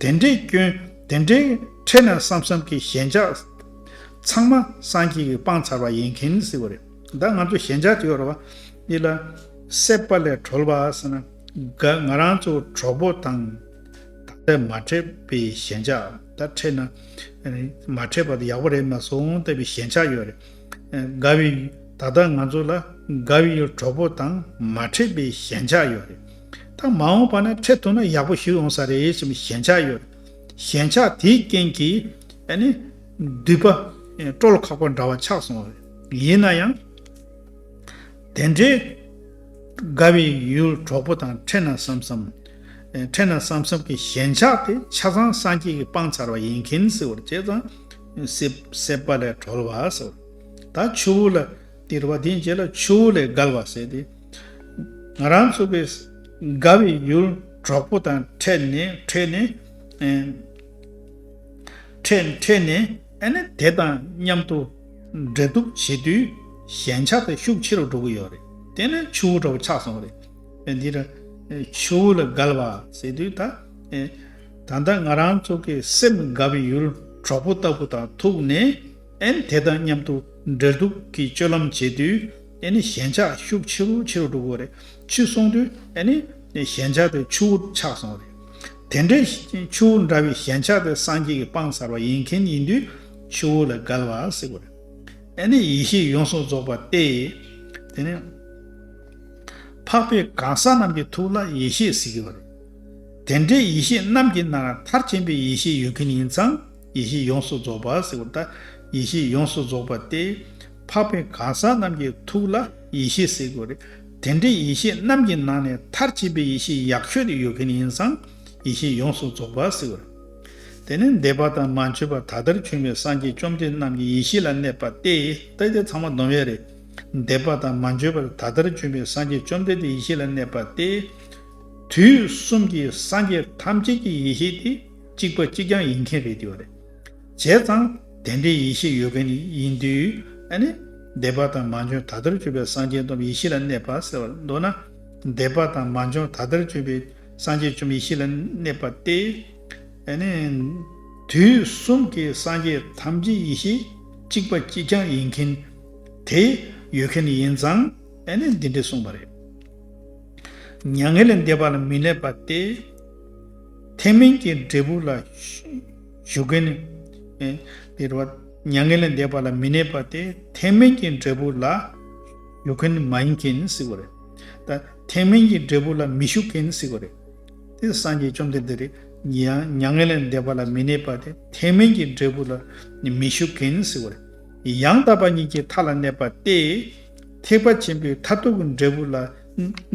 དེ་འདྲའི་སྐྱོན་དེ་འདྲའི་འཕྲད་ན་བསམ་བསམ་གྱི་ཞེན་ཆགས་ཚང་མ་སངས་རྒྱས་ཀྱི་སྤང་ཚར་བ་ཡིན་གྱིན་སྲིད་པ་རེད་ད་ང་ཚོ་ཞེན་ཆགས་ཀྱི་ཡོ་རོ་བ་ཡིད་ལ་སྲེད་པ་ལས་གྲོལ་བ་ཟེར་ན་དགའ་ང་རང་ཚོ་གྲོགས་པོ་དང་ད་ལྟ་མ་འཕྲད་པའི་ཞེན་ཆགས་ད་འཕྲད་ན་མ་འཕྲད་པ་དེ་ཡག་པོ་རེད་མ་སོང་ལྟ་བུའི་ཞེན་ཆགས་ཡོད་རེད་དགའ་བའི་ད་ལྟ་ང་ཚོ་ལ་དགའ་བའི་གྲོགས་པོ་དང་མ་འཕྲད་པའི་ཞེན་ཆགས་ཡོད་རེད། ད་མ་འོངས་པ་ན་འཕྲད་ཐུབ་ན་ཡག་པོ་ཞིག་ཡོང་ས་རེད་ཅེས་པའི་ཞན་ཆ་ཡོད། ཞན་ཆ་དེའི་རྐྱེན་གྱིས། འདུས་པ། སྤྲོ་ལ་ཁག་པ་འདྲ་བ་ཆགས་སོང་བས། ཡིན་ན་ཡང། དེ་འདྲའི། དགའ་བའི་ཡུལ་གྲོགས་པོ་དང་འཕྲད་ན་བསམ་བསམ། འཕྲད་ན་བསམ་བསམ་གྱི་ཞན་ཆ་དེ་ཆ་ཚང་སངས་རྒྱས་ཀྱིས་སྤངས་ཚར་བ་ཡིན་མཁན་སྲིད་བར་བྱས་ཙང། སྲེད་པ་ལས་གྲོལ་བ་ཟེར་བ། ད་ཆུ་བོ་ལ། སྟེར་བ་དེའི་རྗེས་ལ་ཆུ་བོ་ལས་བརྒལ་བ་ཟེར་ཏེ། ང་རང་ཚུགས་པའི་དགའ་བའི་ཡུལ་གྲོགས་པོ་དང་འཕྲད་ནས་འཕྲད་ནས། འཕྲད་འཕྲད་ནས་ཨ་ནེ་དེ་དང་མཉམ་དུ་འབྲེལ་གཏུག་བྱེད་དུས་ཞན་ཆ་དེ་ཤུགས་ཆེ་རུ་འགྲོ་གི་ཡོད་རེད། དེ་ནི་ཆུ་བོ་འདྲ་བོ་ཆགས་སོང་བ་རེད། དེ་འདི་རུ་ཆུ་བོ་ལ་གལ་བ་ཟེར་དུས་ད། ད་ལྟ་ང་རང་ཚུགས་ཀྱི་སེམས་དགའ་བའི་ཡུལ་གྲོགས་པོ་ལྟ་བུ་དང་ཐུག་ནས། ཨན་དེ་དང་མཉམ་དུ་འབྲེལ་གཏུག་གི་སྤྱོད་ལམ་བྱེད་དུས་ཨན་ནི་ཞེན་ཆགས་ཤུགས་ཆེ་རུ་ཆེ་རུ་འགྲོ་གི་རེད། ཕྱིར་སོང་དུས་ཨན་ནི་ཞེན་ཆགས་དེ་ཆུ་བོར་ཆགས་སོང་བ་རེད། དེ་འདྲའི་ཆུ་བོ་འདྲ་བའི་ཞེན་ཆགས་དེ་སངས་རྒྱས་ཀྱི་དཔང་སར་བ་ཡིན་མཁན་ཡིན་དུས་ཆུ་བོ་ལ་བརྒལ་བ་སྲིད་གི་རེད། ཨན་ནི་ཡེ་ཤེས་ཡོངས་སུ་རྫོགས་པ་སྟེ། དེ་ནས་འཕགས་པའི་གང་ཟག་རྣམས་ཀྱི་ཐུགས་ལ་ཡེ་ཤེས་ཟེར་གི་བ་རེད། དེ་འདྲའི་ཡེ་ཤེས་རྣམས་ཀྱི་ནང་མཐར་ཕྱིན་པའི་ཡེ་ཤེས་ཡོད་མཁན་ཡིན་ཙང། ཡེ་ཤེས་ཡོངས་སུ་རྫོགས་པ་ཟེར་བ་ལྟར་ཡེ་ཤེས་ཡོངས་སུ་རྫོགས་པ་སྟེ། འཕགས་པའི་གང་ཟག་རྣམས་ཀྱི་ཐུགས་ལ་ཡེ་ཤེས་ཟེར་དགོས་རེད། དེ་འདྲའི་ཡེ་ཤེས་རྣམས་ཀྱི་ནང་ནས་མཐར་བྱེད་པའི་ཡེ་ཤེས་ཡག་ཤོས་དེ་ཡོད་མཁན་ཡིན་ཙང་ཡེ་ཤེས་ཡོངས་སུ་རྫོགས་པ་ཟེར་བ་རེད། དེ་ནི་འདས་པ་དང་མ་འཕྱོས་པ་ད་ལྟར་བྱོན་པའི་སངས་རྒྱས་བཅོམ་ལྡན་རྣམས་ཀྱི་ཡེ་ཤེས་ལ་གནས་པ་སྟེ་ད་ལྟའི་ཚང་མ་སྡོམ་ཡོད་རེད། འདས་པ་དང་མ་འཕྱོས་པར་ད་ལྟར་བྱོན་པའི་སངས་རྒྱས་བཅོམ་ལྡན་གྱི་ཡེ་ཤེས་ལ་གནས་པ་སྟེ། དུས་གསུམ་གྱི་སངས་རྒྱས་ཐམས་ཅད་ཀྱི་ཡེ་ཤེས་དེ། གཅིག་པ་གཅིག་རྐྱང་ཡིན་མཁན་རེད་དེ། བྱས་ཙང་དེ་འདྲའི་ཡེ་ཤེས་ཡོད་མཁན་ཡིན་དུས། འདས་པ་དང་མ་འབྱོན་ད་ལྟར་སྤྱོད་པའི་སངས་རྒྱས་སྟོབས་ཡེ་ཤེས་ལ་གནས་པ་ཟེར་བར་འདོད་ན། འདས་པ་དང་མ་འབྱོན་ད་ལྟར་སྤྱོད་པའི་སངས་རྒྱས་བཅོམ་ཡེ་ཤེས་ལ་གནས་པ་སྟེ། དུས་གསུམ་གྱི་སངས་རྒྱས་ཐམས་ཅད་ཡེ་ཤེས་གཅིག་པ་གཅིག་རྐྱང་ཡིན་མཁན་དེ་ཡོད་མཁན་ཡིན་ཙང་འདི་འདྲས་གསུངས་པ་རེད། མྱ་ངན་ལས་འདས་པ་ལ་མི་གནས་པ་སྟེ། ཐེག་དམན་གྱི་འབྲས་བུ་ལ་ཞུགས་མཁན་ནི། འདིར་བ། མྱ་ངན་ལས་འདས་པ་ལ་མི་གནས་པ་སྟེ་ཐེག་དམན་གྱི་འབྲས་བུ་ལ་ཞུགས་མཁན་ནི་མ་ཡིན་མཁན་ནི་སྲིད་པ་རེད། ད་ཐེག་དམན་གྱི་འབྲས་བུ་ལ་མི་ཞུགས་མཁན་ནི་སྲིད་པ་རེད། དེ་སངས་རྒྱས་བཅོམ་ལྡན་འདས་རེད། ཡང་མྱ་ངན་ལས་འདས་པ་ལ་མི་གནས་པ་སྟེ་ཐེག་དམན་གྱི་འབྲས་བུ་ལ་མི་ཞུགས་མཁན་ནི་སྲིད་པ་རེད། ཡང་དག་པ་ཉིད་ཀྱི་མཐའ་ལ་གནས་པ་སྟེ། ཐེག་པ་ཆེན་པོའི་མཐར་ཐུག་གི་འབྲས་བུ་ལ་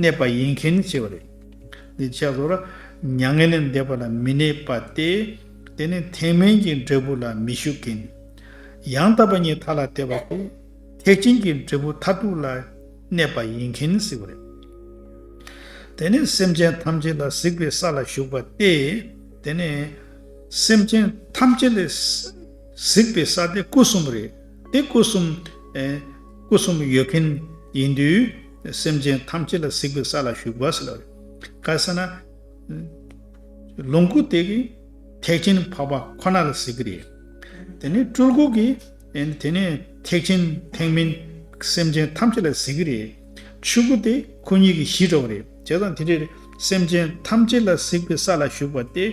གནས་པ་ཡིན་མཁན་ནི་སྐྱེ་བ་རེད། འདི་བྱས་སོ། མྱ་ངན་ལས་འདས་པ་ལ་མི་གནས་པ་སྟེ། དེ་ནི་ཐེག་དམན་གྱི་འབྲས་བུ་ལ་མི་ཞུགས་ཀྱིན། ཡང་དག་པ་ཉིད་མཐའ་ལ་དད་པ་སྟེ། ཐེག་ཆེན་གྱི་འབྲས་བུ་མཐར་ཐུག་ལ་གནས་པ་ཡིན་གྱིན་གཟིགས་པ་རེད། དེ་ནི་སེམས་ཅན་ཐམས་ཅད་ལ་གཟིགས་པའི་ས་ལ་ཞུགས་པ་སྟེ། དེ་ནི། སེམས་ཅན་ཐམས་ཅད་ལ་གཟིགས་པའི་ས་སྟེ་སྐུ་གསུམ་རེད། དེ་སྐུ་གསུམ། སྐུ་གསུམ་ཡོད་མཁན་ཡིན་དུས། སེམས་ཅན་ཐམས་ཅད་ལ་གཟིགས་པའི་ས་ལ་ཞུགས་པ་ཟེར་བ་རེད། ག་ས་ན། ལོངས་སྐུ་དེ་གིས་ཐེག་ཆེན་འཕགས་པ་ཁོ་ན་ལ་གཟིགས་ཀྱི་རེད། དེ་ནས་སྤྲུལ་སྐུ་གིས་དེ་ནས་ཐེག་ཆེན་ཐེག་མིན་སེམས་ཅན་ཐམས་ཅད་ལ་གཟིགས་ཀྱི་རེད། ཆོས་སྐུ་དེ་ཁོ་གཉིས་ཀྱི་གཞི་འགྲོ་བ་རེད། བྱས་ཙང་དེ་འདྲའི་སེམས་ཅན་ཐམས་ཅད་ལ་གཟིགས་པའི་ས་ལ་ཞུགས་པ་སྟེ།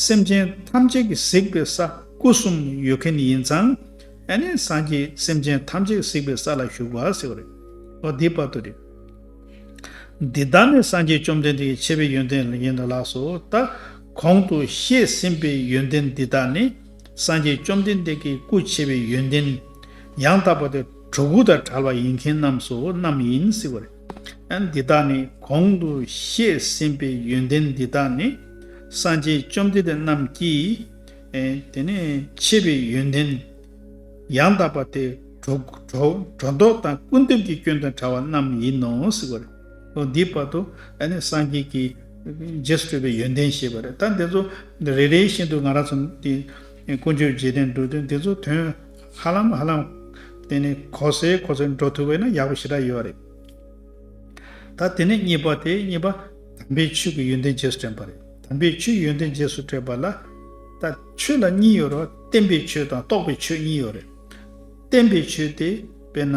སེམས་ཅན་ཐམས་ཅད་ཀྱི་གཟིགས་པའི་ས་སྐུ་གསུམ་ཡོད་མཁན་ཡིན་ཙང་ཨ་ནི་སངས་རྒྱས་སེམས་ཅན་ཐམས་ཅད་གཟིགས་པའི་ས་ལ་བཞུགས་པ་ཟེར་བ་རེད། ཨོ་དེའི་བར་དུ་རེད། འདི་དག་ནི་སངས་རྒྱས་བཅོམ་ལྡན་འདས་ཀྱི་ཆེ་བའི་ཡོན་ཏན་ཡིན་ལགས་སོ། ད་གོང་དུ་བཤད་ཟིན་པའི་ཡོན་ཏན་འདི་དག་ནི་སངས་རྒྱས་བཅོམ་ལྡན་འདས་ཀྱི་སྐུ་ཆེ་བའི་ཡོན་ཏན། ཡང་དག་པ་དེ་གྲོག་གུ་དང་བྲལ་བ་ཡིན་མཁན་རྣམས་སོ་རྣམས་ཡིན་ཟེར་བ་རེད། ཨ་འདི་དག་ནི་གོང་དུ་བཤད་ཟིན་པའི་ཡོན་ཏན་འདི་དག་ནི་སངས་རྒྱས་བཅོམ་ལྡན་འདས་རྣམས་ཀྱིས། དེ་ནས་ཆེ་བའི་ཡོན་ཏན། ཡང་དག་པ་དེ་སྒྲོ་འདོགས་དང་སྐུར་འདེབས་ཀྱི་སྐྱོན་དང་བྲལ་བ་རྣམས་ཡིན་ནོ་ཟེར་བ་རེད། འདིའི་བར་དུ་སངས་རྒྱས་ཀྱི་རྗེས་སུ་སྤྲོད་པའི་ཡོན་ཏན་ཞེས་པ་རེད། ད་འདི་ཚོ་རེ་རེ་བཞིན་དུ་ང་རང་ཚོ་འདི་ཀུན་སྤྱོད་རྗེས་དྲན་འགྲོ་དུས་འདི་ཚོ་དོན་ཧ་ལམ་ཧ་ལམ་དེ་ནི་གོ་སའི་གོ་སར་འགྲོ་ཐུབ་པས་ན་ཡག་པོ་ཞེ་དྲག་ཡོད་རེད། ད་དེ་ནས་གཉིས་པ་དེ་གཉིས་པ། དམ་པའི་ཆོས་ཀྱི་ཡོན་ཏན་རྗེས་སུ་དྲན་པ་རེད། དམ་པའི་ཆོས་ཡོན་ཏན་རྗེས་སུ་དྲན་པ་ལ། ད་ཆོས་ལ་གཉིས་ཡོད་རོ། བསྟན་པའི་ཆོས་དང་རྟོགས་པའི་ཆོས་གཉིས་ཡོད་རེད། བསྟན་པའི་ཆོས་དེ་དཔེར་ན།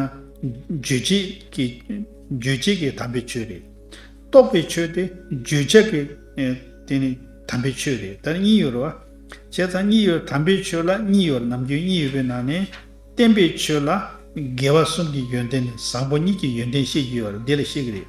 རྗོད་བྱེད་ཀྱི། རྗོད་བྱེད་ཀྱི་དམ་པའི་ཆོས་རེད། རྟོགས་པའི་ཆོས་དེ་བརྗོད་བྱ་གི། དེ་ནི་དམ་པའི་ཆོས་རེད་དར་གཉིས་ཡོད་རོ། བྱས་ཙང་གཉིས་ཡོད་དམ་པའི་ཆོས་ལ་གཉིས་ཡོད་ནམ་རྒྱུན་གཉིས་ཡོད་པའི་ནང་ནས། བསྟན་པའི་ཆོས་ལ། དགེ་བ་གསུམ་གྱི་ཡོན་ཏན་ནི་བཟང་པོ་གཉིས་ཀྱི་ཡོན་ཏན་ཤེས་ཀྱི་ཡོད་རེད་འདི་ལ་ཤེས་ཀྱི་རེད།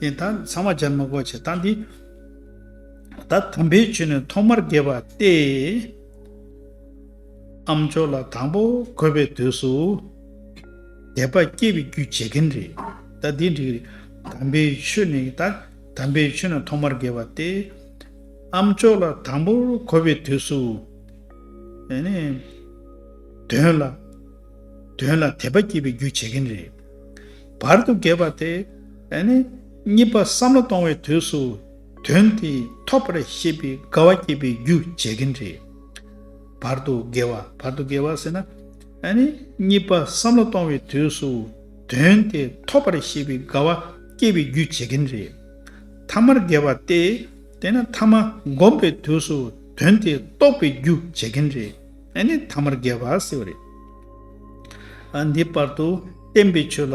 ནས་ད་ཚང་མ་ཇར་མ་གོ་བྱེད་སྟངས་འདི། ད་དམ་པའི་ཆོས་ནི་ཐོག་མར་རྒྱས་པ་སྟེ། ཨ་མཆོག་ལ་དང་པོ་གོ་བའི་དུས་སུ། དད་པ་སྐྱེ་བའི་རྒྱུ་བྱེད་མཁན་རེད། ད་འདི་འགྲིག་རེད། དམ་པའི་ཆོས་ནི་ད་དམ་པའི་ཆོས་ནི་ཐོག་མར་རྒྱས་པ་སྟེ། ཨ་མཆོག་ལ་དང་པོ་གོ་བའི་དུས་སུ། དོན་ལ་དད་པ་སྐྱེ་བའི་རྒྱུ་བྱེད་མཁན་རེད། བར་དུ་གྱེས་པ་དེ་ནི་གཉིས་པ་བསམ་བློ་གཏོང་བའི་དུས་སུ་དོན་དེ་ཐོབ་པར་ཤེས་པའི་དགའ་བ་སྐྱེས་པའི་རྒྱུ་བྱེད་ཀྱིན་རེད། བར་དུ་གྱེས་བ་བར་དུ་གྱེས་བ་ཟེར་ན་ནི་གཉིས་པ་བསམ་བློ་གཏོང་བའི་དུས་སུ་དོན་དེ་ཐོབ་པར་ཤེས་པའི་དགའ་བ་སྐྱེས་པའི་རྒྱུ་བྱེད་ཀྱིན་རེད། ཐ་མར་གྱེས་བ་སྟེ་དེ་ནི་ཐ་མ་བསྒོམས་པའི་དུས་སུ་དོན་དེ་རྟོགས་པའི་རྒྱུ་བྱེད་ཀྱིན་རེད། ནི་ཐ་མར་གྱེས་བ་ཟེར་བ་རེད། འདི་བར་དུ་བསྟན་པའི་ཆོས་ལ།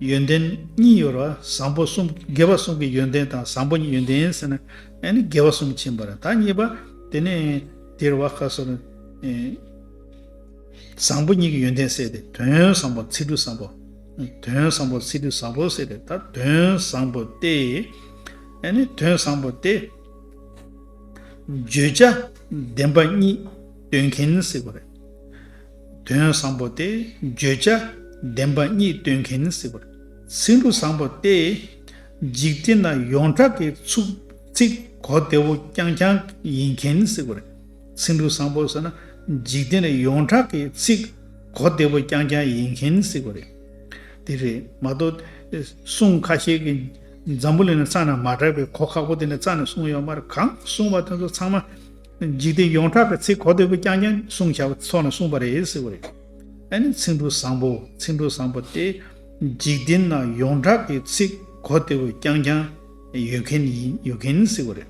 ཡོན་ཏན་གཉིས་ཡོད་ར་བཟང་པོ་གསུམ་དགེ་བ་གསུམ་གྱི་ཡོན་ཏན་དང་བཟང་པོ་གཉིས་ཡོན་ཏན་ཟེར་ན། ཡང་ནི་དགེ་བ་གསུམ་ཕྱིན་པ་ར་ད་གཉིས་པ། དེ་ནས་དེར་བ་ཁ་སོ་ན། བཟང་པོ་གཉིས་ཀྱི་ཡོན་ཏན་བསལ་ཏེ་དོན་བཟང་པོ་ཚིག་འབྲུ་བཟང་པོ། དོན་བཟང་པོ་ཚིག་འབྲུ་བཟང་པོ་བསལ་ཏེ་ད་དོན་བཟང་པོ་སྟེ། ཡང་ནི་དོན་བཟང་པོ་སྟེ། བརྗོད་བྱ་བདེན་པ་གཉིས་སྟོན་མཁན་ཟེར་བ་རེད། དོན་བཟང་པོ་སྟེ་བརྗོད་བྱ་བདེན་པ་གཉིས་སྟོན་མཁན་སྲིད་པར་ཚིག་འབྲུ་བཟང་པོ་སྟེ། འཇིག་རྟེན་ན་ཡོངས་གྲགས་ཀྱི་ཚུགས་ཚིག་གོ་བདེ་བོ་རྐྱང་རྐྱང་ཡིན་མཁན་སྲིད་པར་ཚིག་འབྲུ་བཟང་པོ་ཟེར་ན་འཇིག་རྟེན་ན་ཡོངས་གྲགས་ཀྱི་ཚིག་གོ་བདེ་བོ་རྐྱང་རྐྱང་ཡིན་མཁན་སྲིད་པར་དེ་རེད་མ་གཏོགས། གསུང་ཁ་ཤས་ཀྱི་འཛམ་བུ་གླིང་ན་རྩ་ན་མ་གྲགས་པའི་གོ་ཁག་པོ་དེ་ནི་རྩ་ནས་གསུང་ཡོད་མར་གང་གསུང་བ་དེ་ཚོ་ཚང་མ། འཇིག་རྟེན་ཡོངས་གྲགས་ཀྱི་ཚིག་གོ་བདེ་པོ་རྐྱང་རྐྱང་གསུང་བྱ་བ་ཚོགས་ནས་གསུངས་པ་རེད་ཟེར་བ་རེད། ཨ་ནི་ཚིག་འབྲུ་བཟང་པོ་ཚིག་འབྲུ་བཟང་པོ་སྟེ། འཇིག་རྟེན་ན་ཡོངས་གྲགས་ཀྱི་ཚིག་གོ་བདེ་བོ་རྐྱང་རྐྱང་ཡོད་མཁན་ཡིན་ཡོད་མཁན་ཟེར་བ་རེད།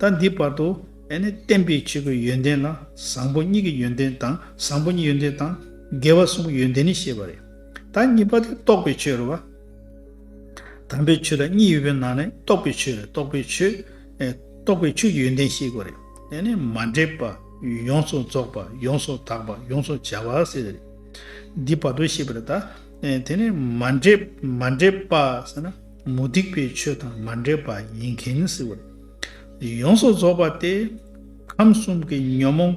ད་འདི་བར་དུ་ཨ་ནི་བསྟན་པའི་ཆོས་ཀྱི་ཡོན་ཏན་ལ་བཟང་པོ་གཉིས་ཀྱི་ཡོན་ཏན་དང་བཟང་པོ་གཉིས་ཡོན་ཏན་དང་དགེ་བ་གསུམ་གྱི་ཡོན་ཏན་ནི་བཤད་པ་རེད། ད་གཉིས་པ་དེ་རྟོགས་པའི་ཆོས་རེད་བ། དམ་པའི་ཆོས་ལ་གཉིས་ཡོད་པའི་ནང་ནས་རྟོགས་པའི་ཆོས་རེད་རྟོགས་པའི་ཆོས་རྟོགས་པའི་ཆོས་ཀྱི་ཡོན་ཏན་ཞེས་བསྒོ། དེ་ནི་མ་འདྲེས་པ། ཡོངས་སུ་རྫོགས་པ། ཡོངས་སུ་དག་པ། ཡོངས་སུ་བྱ་བ། འདི་བར་དོ་ཤེས་པར་བལྟ། དེ་ནི་མ་འདྲེས་པ། མུ་སྟེགས་པའི་ཆོས་དང་མ་འདྲེས་པ་ཡིན་གྱིན། ཡོངས་སུ་རྫོགས་པ་སྟེ། ཁམས་གསུམ་གྱི་ཉོན་མོངས་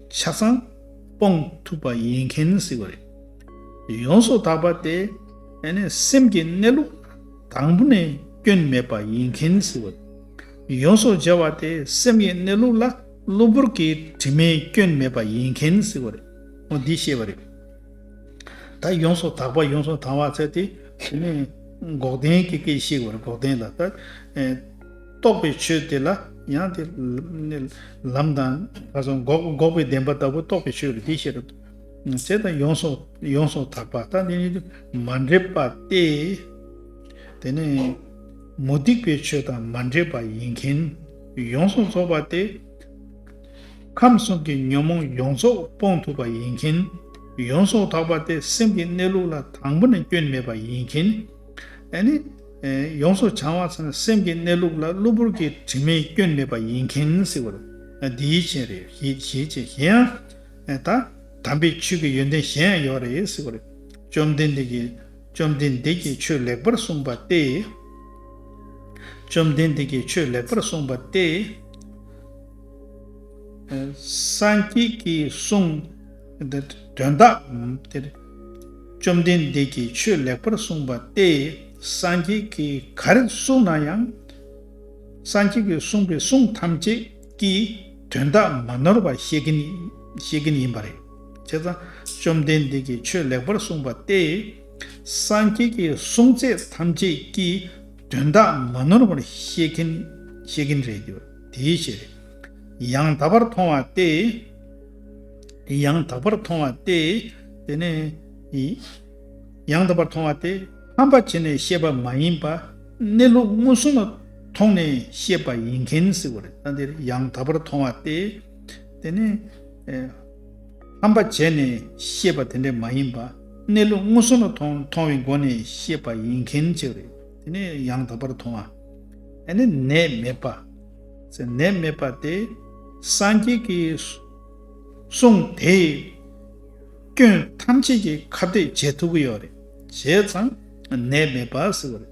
ཆ་ཚང་སྤོང་ཐུབ་པ་ཡིན་གྱིན། ཡོངས་སུ་དག་པ་སྟེ། སེམས་ཀྱི་གནས་ལུགས། དང་པོ་ནས་སྐྱོན་མེད་པ་ཡིན་མཁན་ཟེར་བ། ཡོངས་སུ་སྦྱར་བ་དེ་སེམས་ཡེ་གནས་ལུགས་ལ་གློ་བུར་གྱི་དྲི་མའི་སྐྱོན་མེད་པ་ཡིན་མཁན་ཟེར་བ་རེད། འདི་ཤེས་པ་རེད། ད་ཡོངས་སུ་དག་པ་ཡོངས་སུ་དང་བ་ཚད་དེ་དེ་ནས་འགོག་བདེན་གྱི་སྐད་ཤེས་པར་འགོག་བདེན་ལ་ལྟ། རྟོགས་པའི་ཆོས་དེ་ལ་ཡང་དེ། ལམ་དང། འགོག་པའི་བདེན་པ་ལྟ་བུ་རྟོགས་པའི་ཆོས་རེད་འདི་ཤེས་རོགས། དེ་དང་ཡོངས་སོགས་ཡོངས་སོགས་དག་པ་དང་འདི་གཉིས་མ་འདྲེས་པ་སྟེ། དེ་ནས་མུ་སྟེགས་པའི་ཆོས་དང་མ་འདྲེས་པ་ཡིན་མཁན་ཡོངས་སུ་རྫོགས་པ་སྟེ། ཁམས་གསུམ་གྱི་ཉོན་མོངས་ཡོངས་རྫོགས་སྤོང་ཐུབ་པ་ཡིན་མཁན་ཡོངས་སོགས་དག་པ་སྟེ་སེམས་ཀྱི་གནས་ལུགས་ལ་དང་པོ་ནས་སྐྱོན་མེད་པ་ཡིན་མཁན། ཡོངས་སུ་བྱང་བ་ཚང་བའི་སེམས་ཀྱི་གནས་ལུགས་ལ་གློ་བུར་གྱི་དྲི་མའི་སྐྱོན་མེད་པ་ཡིན་མཁན། འདིའི་ཕྱིར། གཞན་ཡང། ཨེ་ད། དམ་པའི་ཆོས་ཀྱི་ཡོན་ཏན་གཞན་ཡང་ཡོད་རེད་ཟེར་བ་རེད། བཅོམ་ལྡན་འདས་ཀྱིས། བཅོམ་ལྡན་འདས་ཀྱིས་ཆོས་ལེགས་པར་གསུངས་པ་སྟེ། བཅོམ་ལྡན་འདས་ཀྱིས་ཆོས་ལེགས་པར་གསུངས་པ་སྟེ། སངས་རྒྱས་ཀྱིས་གསུངས། དོན་དག། བཅོམ་ལྡན་འདས་ཀྱིས་ཆོས་ལེགས་པར་གསུངས་པ་སྟེ། སངས་རྒྱས་ཀྱིས་ག་རེ་གསུངས་ན་ཡང། སངས་རྒྱས་ཀྱིས་གསུངས་པའི་གསུང་ཐམས་ཅད། ཀྱི་དོན་དག་མ་ནོར་བར་ཤེས་མཁན་ཡིན་པ་རེད། བྱས་ཙང་བཅོམ་ལྡན་འདས་ཀྱིས་ཆོས་ལེགས་པར་གསུངས་པ་སྟེ། སངས་རྒྱས་ཀྱི་གསུང་ཚད་ཐམས་ཅད་ཀྱི་དོན་དག་མ་ནོར་བར་ཤེས་མཁན་རེད། དེའི་ཕྱིར་ཡང་དག་པར་མཐོང་བ་སྟེ། དེ་ནི། ཡང་དག་པར་མཐོང་བ་སྟེ། ཕམ་པར་བྱས་ནས་ཤེས་པ་མ་ཡིན་པ། གནས་ལུགས་མངོན་སུམ་ལ་མཐོང་ནས་ཤེས་པ་ཡིན་གན་ཟེར་བ་རེད་ད་འདིར་ཡང་དག་པར་མཐོང་བ་སྟེ། དེ་ནི། ཕམ་པར་བྱས་ནས་ཤེས་པ་དེ་འདྲ་མ་ཡིན་པ། གནས་ལུགས་མངོན་སུམ་ལ་མཐོང་བའི་སྒོ་ནས་ཤེས་པ་ཡིན་གན་ཆེ་བ་རེད་དེ་ནི་ཡང་དག་པར་མཐོང་བ། དེ་ནི་ནད་མེད་པ། ཟེར་ནད་མེད་པ་སྟེ། སངས་རྒྱས་ཀྱི་གསུང་དེས། སྐྱོན་ཐམས་ཅད་ཀྱི་ཁ་བརྡས་བྱེད་ཐུབ་ཀྱི་ཡོད་རེད་བྱས་ཙང་ནད་མེད་པ་ཟེར་བ་རེད།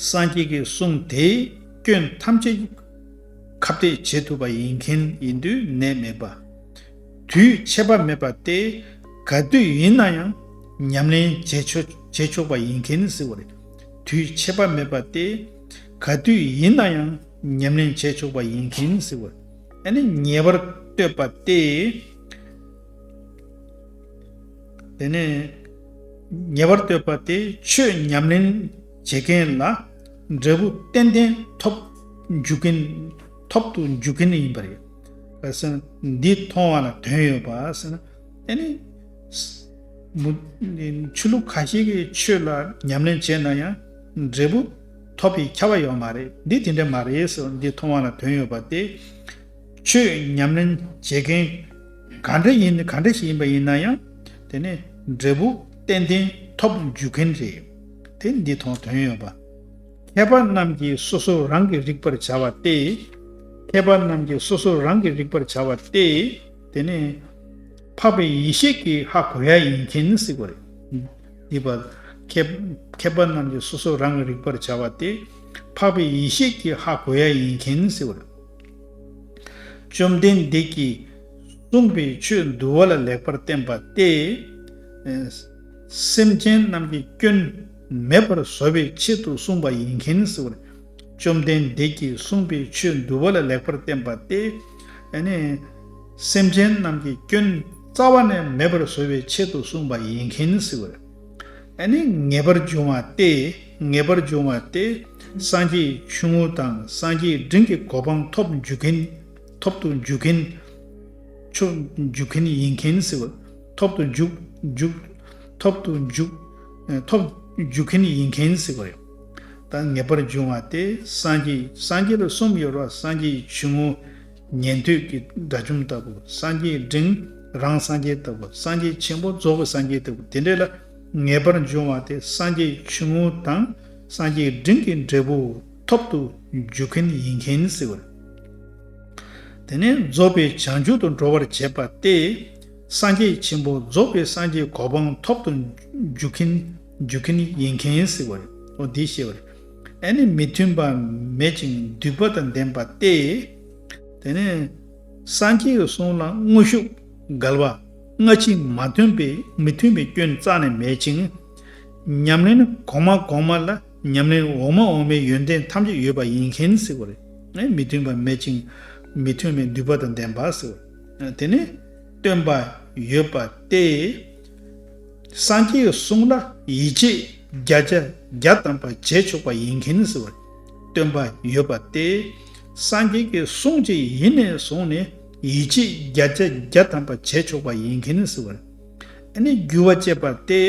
སངས་རྒྱས་ཀྱི་གསུང་དེས་སྐྱོན་ཐམས་ཅད་ཀྱི་ཁ་བརྡས་བྱེད་ཐུབ་པ་ཡིན་མཁན་ཡིན་དུས་ནད་མེད་པ། དུས་ཆད་པ་མེད་པ་སྟེ་ག་དུས་ཡིན་ན་ཡང་ཉམས་ལེན་བྱེད་ཆོག་པ་ཡིན་མཁན་ཟེར་བ་རེད། དུས་ཆད་པ་མེད་པ་སྟེ་ག་དུས་ཡིན་ན་ཡང་ཉམས་ལེན་བྱེད་ཆོག་པ་ཡིན་མཁན་ཟེར་བ་རེད། ཉེ་བར་བསྟོད་པ་སྟེ། ནས། ཉེ་བར་གཏོད་པ་སྟེ་ཆོས་ཉམས་ལེན་བྱེད་མཁན་ལ་འབྲས་བུ་ཏན་ཏན་ཐོབ་འཇུག་གིན་ཐོབ་ཏུ་འཇུག་གིན་ཡིན་པ་རེད། ལྷག་བསམ་འདི་མཐོང་བ་ལ་དོན་ཡོད་པ་ཟེར་ན། དེ་ནི། ཆོས་ལུགས་ག་ཞིག་གི་ཆོས་ལ་ཉམས་ལེན་བྱས་ན་ཡང་འབྲས་བུ་ཐོབ་པའི་ཁྱབ་པ་ཡོད་མ་རེད། འདི་དེ་འདྲ་མ་རེད་ཟེར་བ་འདི་མཐོང་བ་ལ་དོན་ཡོད་པ་སྟེ། ཆོས་ཉམས་ལེན་བྱེད་མཁན་ག་འདྲ་ཡིན་ག་འདྲ་ཞིག་ཡིན་པ་ཡིན་ན་ཡང་དེ་ནི་འབྲས་བུ་ཏན་ཏན་ཐོབ་འཇུག་མཁན་རེད་དེ་འདི་ཐོག་དོན་ཡོད་པ། མཁས་པ་རྣམས་ཀྱིས་སོ་སོ་རང་གིས་རིག་པར་བྱ་བ་སྟེ། མཁས་པ་རྣམས་ཀྱིས་སོ་སོ་རང་གིས་རིག་པར་བྱ་བ་སྟེ། དེ་ནི་འཕགས་པའི་ཡེ་ཤེས་ཀྱི་ཧ་གོ་ཡ་ཡིན་མཁན་ཟིག་གོ་རེད། འདི་པ། མཁས་པ་རྣམས་ཀྱིས་སོ་སོ་རང་གིས་རིག་པར་བྱ་བ་སྟེ། འཕགས་པའི་ཡེ་ཤེས་ཀྱི་ཧ་གོ་ཡ་ཡིན་མཁན་ཟིག་གོ་རེད། བཅོམ་ལྡན་འདས་ཀྱིས་གསུངས་པའི་ཆོས་འདུལ་བ་ལ་ལེགས་པར་བསྟེན་པ་སྟེ། སེམས་ཅན་རྣམས་ཀྱི་སྐྱོན་མེད་པར་བཟོ་བའི་ཆེད་དུ་གསུངས་པ་ཡིན་གྱིན་ཟེར་བར། བཅོམ་ལྡན་འདས་ཀྱིས་གསུངས་པའི་ཆོས་འདུལ་བ་ལ་ལེགས་པར་བསྟེན་པ་སྟེ། སེམས་ཅན་རྣམས་ཀྱི་སྐྱོན་རྩ་བ་ནས་མེད་པར་བཟོ་བའི་ཆེད་དུ་གསུངས་པ་ཡིན་གྱིན་ཟེར་བར། ཨ་ནི་ངེས་པར་འབྱུང་བ་སྟེ་ངེས་པར་འབྱུང་བ་སྟེ། སངས་རྒྱས་ཆུང་ངུ་དང་སངས་རྒྱས་འབྲིང་གི་གོ་འཕང་ཐོབ་འཇུག་མཁན། ཐོབ་ཏུ་འཇུག་མཁན། ཆོག་འཇུག་མཁན་ཡིན་མཁན། ཐོབ་ཏུ་འཇུག། འཇུག། ཐོབ་ཏུ་འཇུག། ཐོབ། འཇུག་མཁན་ཡིན་མཁན། དང་ངེས་པར་འབྱུང་བ་སྟེ་སངས་རྒྱས་སངས་རྒྱས་ལ་གསུམ་ཡོད་པ་སངས་རྒྱས་ཆུང་ངུ། ཉན་ཐོས་ཀྱི་དགྲ་བཅོམ་ལྟ་བུ་སངས་རྒྱས་འབྲིང་རང་སངས་རྒྱས་ལྟ་བུ་སངས་རྒྱས་ཆེན་པོ་རྫོགས་པའི་སངས་རྒྱས་ལྟ་བུ་དེ་འདྲ་ལ་ངེས་པར་འབྱུང་བ་དེ་སངས་རྒྱས་ཆུང་ངུ་དང་སངས་རྒྱས་འབྲིང་གི་འབྲས་བུ་ཐོབ་ཏུ་འཇུག་མཁན་ཡིན་མཁན་ཟེར་བ། དེ་ནས་རྫོགས་པའི་བྱང་ཆུབ་ཏུ་འགྲོ་བར་བྱེད་པ་སྟེ། སངས་རྒྱས་ཆེན་པོ་རྫོགས་པའི་སངས་རྒྱས་གོ་འཕང་ཐོབ་ཏུ་འཇུག་མཁན་ཡིན་མཁན་ཟེར་བའོ། འདིས་བཤད་པར་ཨ་ནི་མི་མཐུན་པ་མེད་ཅིང་འདུས་པ་དང་ལྡན་པ་སྟེ། དེ་ནས་སངས་རྒྱས་ཀྱི་གསུང་ལ་དངོས་ཤུགས་བསྒལ་བ། སྔ་ཕྱི་མ་མཐུན་པའི་མི་མཐུན་པའི་སྐྱོན་རྩ་ནས་མེད་ཅིང། ཉམས་ལེན་གོང་མ་གོང་མ་ལ་ཉམས་ལེན་འོག་མ་འོག་མའི་ཡོན་ཏན་ཐམས་ཅད་ཡོད་པ་ཡིན་མཁན་ཟེར་བ་རེད། མི་མཐུན་པ་མེད་ཅིང་མི་མཐུན་པའི་འདུས་པ་དང་ལྡན་པ་ཟེར་བ། དེ་ནི་སྟོན་པ་ཡོད་པ་སྟེ། སངས་རྒྱས་ཀྱི་གསུང་ལ་ཡིད་ཆེས་བརྒྱ་བརྒྱ་བརྒྱ་བཏང་བ་བྱས་ཆོག་པ་ཡིན་གྱིན་ཟེར་བར་སྟོན་པ་ཡོད་པ་སྟེ། སངས་རྒྱས་ཀྱི་གསུང་ཅི་ཡིན་ནས་བཟུང་ནས་ཡིད་ཆེས་བརྒྱ་བརྒྱ་བརྒྱ་བཏང་བ་བྱས་ཆོག་པ་ཡིན་གྱིན་ཟེར་བར་ནི་རྒྱུ་བ་བཅད་པ་སྟེ།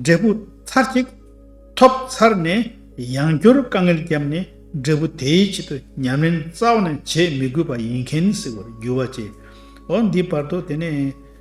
འབྲས་བུ་ཚར་གཅིག་ཐོབ་ཚར་ནས་ཡང་བསྐྱར་དཀའ་ངལ་བརྒྱབ་ནས་འབྲས་བུ་དེའི་ཆེད་དུ་ཉམས་ལེན་རྩ་བ་ནས་བྱེད་མི་དགོས་པ་ཡིན་གྱིན་ཟེར་བར་རྒྱུ་བ་བཅད། འོ་འདིའི་བར་དུ་དེ་ནས།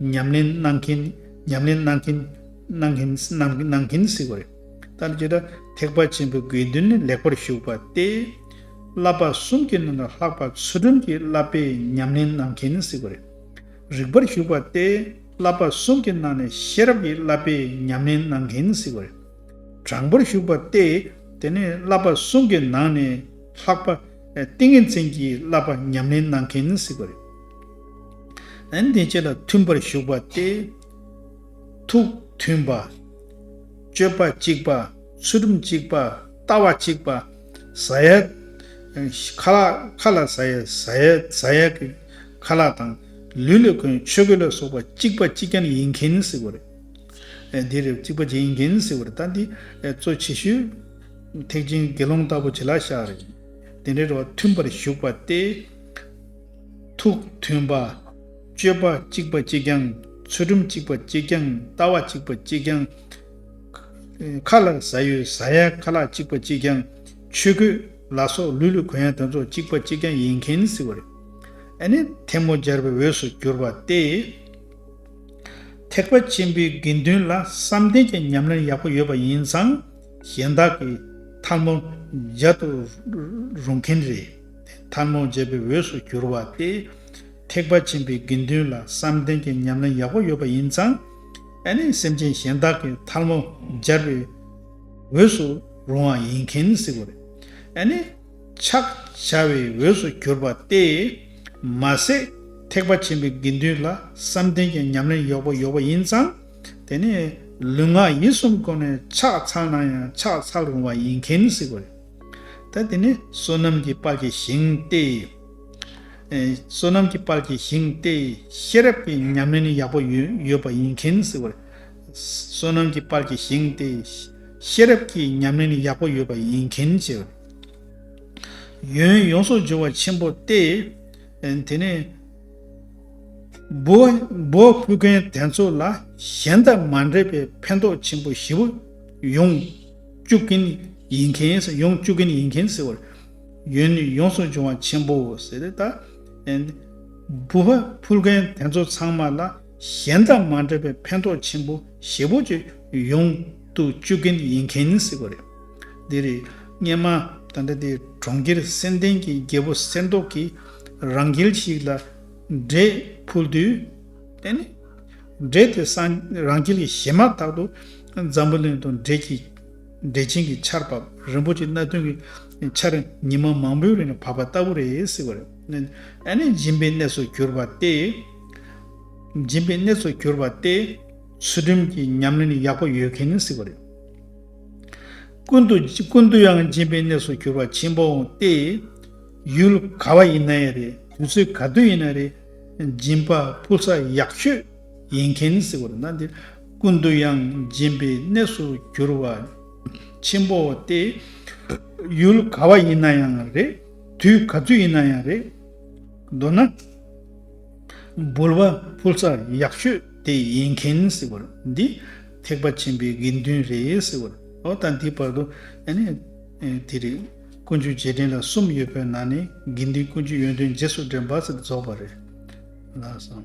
ཉམས་ལེན་གནང་གིན། ཉམས་ལེན་གནང་གིན། གནང་གིན། གནང་གིན་ཟེར་བ་རེད། ད་ལྟ་ཇི་ལྟར་ཐེག་པ་ཆེན་པོའི་དགོས་འདུན་ནི་ལེགས་པར་ཞུགས་པ་སྟེ། བསླབ་པ་གསུམ་གྱི་ནང་ལ་ལྷག་པར་ཚུལ་ཁྲིམས་ཀྱི་བསླབ་པའི་ཉམས་ལེན་གནང་གིན་ཟེར་བ་རེད། རིགས་པར་ཞུགས་པ་སྟེ། བསླབ་པ་གསུམ་གྱི་ནང་ནས་ཤེས་རབ་ཀྱི་བསླབ་པའི་ཉམས་ལེན་གནང་གིན་ཟེར་བ་རེད། དྲང་པོར་ཞུགས་པ་སྟེ། དེ་ནས་བསླབ་པ་གསུམ་གྱི་ནང་ནས་ལྷག་པར་ཏིང་ངེ་འཛིན་གྱི་བསླབ་པ་ཉམས་ལེན་གནང་གིན་ཟེར་བ་རེད། ཨན་དེ་བཅས་ལ་མཐུན་པར་ཞུགས་པ་སྟེ། ཐུགས་མཐུན་པ། སྤྱོད་པ་གཅིག་པ། ཚུལ་ཁྲིམས་གཅིག་པ། ལྟ་བ་གཅིག་པ། ཟ་ཡ། ཁ་ལག་ཁ་ལ་ཟ་ཡ་ཟ་ཡ་ཟ་ཡ་གི་ཁ་ལག་དང། ལུས་ལ་གོས་ཆོས་གོས་ལ་སོགས་པ་གཅིག་པ་གཅིག་ཀྱང་ཡིན་གྱིན་ཟེར་བ་རེད། འདིར་གཅིག་པ་གཅིག་ཡིན་གྱིན་ཟེར་བ་རེད་ད་འདི་གཙོ་ཆེ་ཤོས། ཐེག་ཆེན་དགེ་སློང་ལྟ་བུ་བྱེད་ལ་བཞག་རེད། དེ་འདྲའི་རོ་མཐུན་པར་ཞུགས་པ་སྟེ། ཐུགས་མཐུན་པ། སྤྱོད་པ་གཅིག་པ་གཅིག་ཀྱང་ཚུལ་ཁྲིམས་གཅིག་པ་གཅིག་ཀྱང་ལྟ་བ་གཅིག་པ་གཅིག་ཀྱང། ཁ་ལ་ཟ་ཡོད་ཟ་ཡ་ཁ་ལག་གཅིག་པ་གཅིག་ཀྱང་ཆོས་གོས་ལ་སོགས་ལུས་ལུས་གོན་ཡ་དེ་ཚོ་གཅིག་པ་གཅིག་ཀྱང་ཡིན་མཁན་ཟེར་བ་རེད། ཨ་ནི་ཐལ་མོ་སྦྱར་བའི་འོས་སུ་གྱུར་པ་སྟེ། ཐེག་པ་ཆེན་པོའི་དགེ་འདུན་ལ་བསམ་གཏན་གྱི་ཉམས་ལེན་ཡག་པོ་ཡོད་པ་ཡིན་ཙང་གཞན་དག་གིས་ཐལ་མོ་སྦྱར་དུ་རུང་མཁན་རེད། ཐབས་མང་བརྗེད་པའི་འོས་སུ་གྱུར་བ་སྟེ། ཐེག་པ་ཆེན་པོའི་དགེ་འདུན་ལ་བསམ་གཏན་གྱི་ཉམས་ལེན་ཡག་པོ་ཡོད་པ་ཡིན་ཙང། ཨ་ནི་སེམས་ཅན་གཞན་དག་གི་ཐལ་མོ་སྦྱར་བའི་འོས་སུ་རུང་བ་ཡིན་མཁན་སྲིད་པོ་རེད། ཨ་ནི། ཕྱག་བྱ་བའི་འོས་སུ་གྱུར་བ་སྟེ། མ་ཟད་ཐེག་པ་ཆེན་པོའི་དགེ་འདུན་ལ་བསམ་གཏན་གྱི་ཉམས་ལེན་ཡག་པོ་ཡོད་པ་ཡིན་ཙང། དེ་ནི་ལུས་ངག་ཡིད་གསུམ་གོ་ནས་ཕྱག་འཚལ་ན་ཡང་ཕྱག་འཚལ་རུང་བ་ཡིན་མཁན་སྲིད་པོ་རེད། ད་དེ་ནི་བསོད་ནམས་ཀྱི་དཔལ་གྱི་ཞིང་སྟེ། བསོད་ནམས་ཀྱི་དཔལ་གྱི་ཞིང་སྟེ། ཤེས་རབ་ཀྱི་ཉམས་ལེན་ཡག་པོ་ཡོད་པ་ཡིན་མཁན་ཟེར་བ། བསོད་ནམས་ཀྱི་དཔལ་གྱི་ཞིང་སྟེ། ཤེས་རབ་ཀྱི་ཉམས་ལེན་ཡག་པོ་ཡོད་པ་ཡིན་མཁན་ཟེར་བ། ཡོན་ཡོངས་སུ་སྦྱོར་བ་ཆེན་པོ་སྟེ། དེ་ནི། བུ་ཕུལ་མཁན་དེ་ཚོ་ལ་གཞན་དང་མ་འདྲེས་པའི་ཕན་ཐོགས་ཆེན་པོ་བཞི་པོ་ཡོང། བཅུག་གིན་ཡིན་མཁན་ཟེར་ཡོང་བཅུག་གིན་ཡིན་མཁན་ཟེར་བར། ཡོན་ནི་ཡོངས་སུ་འབྱུང་བ་ཆེན་པོའོ་ཟེར་རེད་ད། འབུ་བ་འཕུར་མཁན་དེ་ཚོ་ཚང་མ་ལ་གཞན་དང་མ་འདྲ་བའི་ཕན་ཐོགས་ཆེན་པོ་ཞེ་པོ་ཅིག་ཡོང་དུ་བཅུག་གིན་ཡིན་མཁན་ཟེར་བ་རེད། འདི་རེད། སྙན་མ་ད་འདྲ་དེ་གྲོང་ཁྱེར་གསེར་ལྡན་གྱི་རྒྱལ་པོ་གསེར་མདོག་གིས་རང་རྒྱལ་ཞིག་ལ་འབྲས་ཕུལ་དུས། དེ་ནི་འབྲས་དེ་སངས་རང་རྒྱལ་གྱི་ཞལ་མར་དག་ཏུ་འཛམ་བུ་གླིང་དུ་འབྲས་ཀྱི་འབྲས་ཆན་གྱི་ཆར་བབས་རིན་པོ་ཆེ་སྣ་བདུན་གྱི་ཆར་ཉི་མ་མང་པོའི་རིང་ལ་བབས་པ་ལྟ་བུ་རེ་སྲིད་པར་སྦྱིན་པའི་གནས་སུ་གྱུར་པ་སྟེ། སྦྱིན་པའི་གནས་སུ་གྱུར་པ་སྟེ། ཚུལ་ཁྲིམས་ཀྱི་ཉམས་ལེན་ཡག་པོ་ཡོད་མཁན་ནི་སྲིད་པ་རེད། ཀུན་ཏུ་ཀུན་ཏུ་ཡང་སྦྱིན་པའི་གནས་སུ་གྱུར་པ་ཆེན་པོའང་སྟེ། ཡུལ་ག་བ་ཡིན་ན་ཡང་རེད་དུས་ཚོད་ག་དུས་ཡིན་ན་རེད། སྦྱིན་པ་ཕུལ་ས་ཡག་ཤོས་ཡིན་མཁན་ཟེར་བ་ན་འདིར་ཀུན་ཏུ་ཡང་སྦྱིན་པའི་གནས་སུ་གྱུར་བ་ཆེན་པོ་སྟེ། ཡུལ་ག་བ་ཡིན་ན་ཡང་རེད། དུས་ག་ཚོད་ཡིན་ན་ཡང་རེད། མདོར་ན། འབུལ་བ་ཕུལ་ས་ཡག་ཤོས་དེ་ཡིན་མཁན་ཟེར་བ་འདི་ཐེག་པ་ཆེན་པོའི་དགེ་འདུན་རེད་ཟེར་བ་ལ་ད་ལྟའི་བར་དུ་ཡང་ནི་དེ་རེད། ཀུན་སྤྱོད་རྗེས་དྲན་ལ་གསུམ་ཡོད་པའི་ནང་ནས་དགེ་འདུན་ཀུན་སྤྱོད་ཡོན་ཏན་རྗེས་སུ་དྲན་པ་ཟེར་རྫོགས་པ་རེད། ལགས་སམ།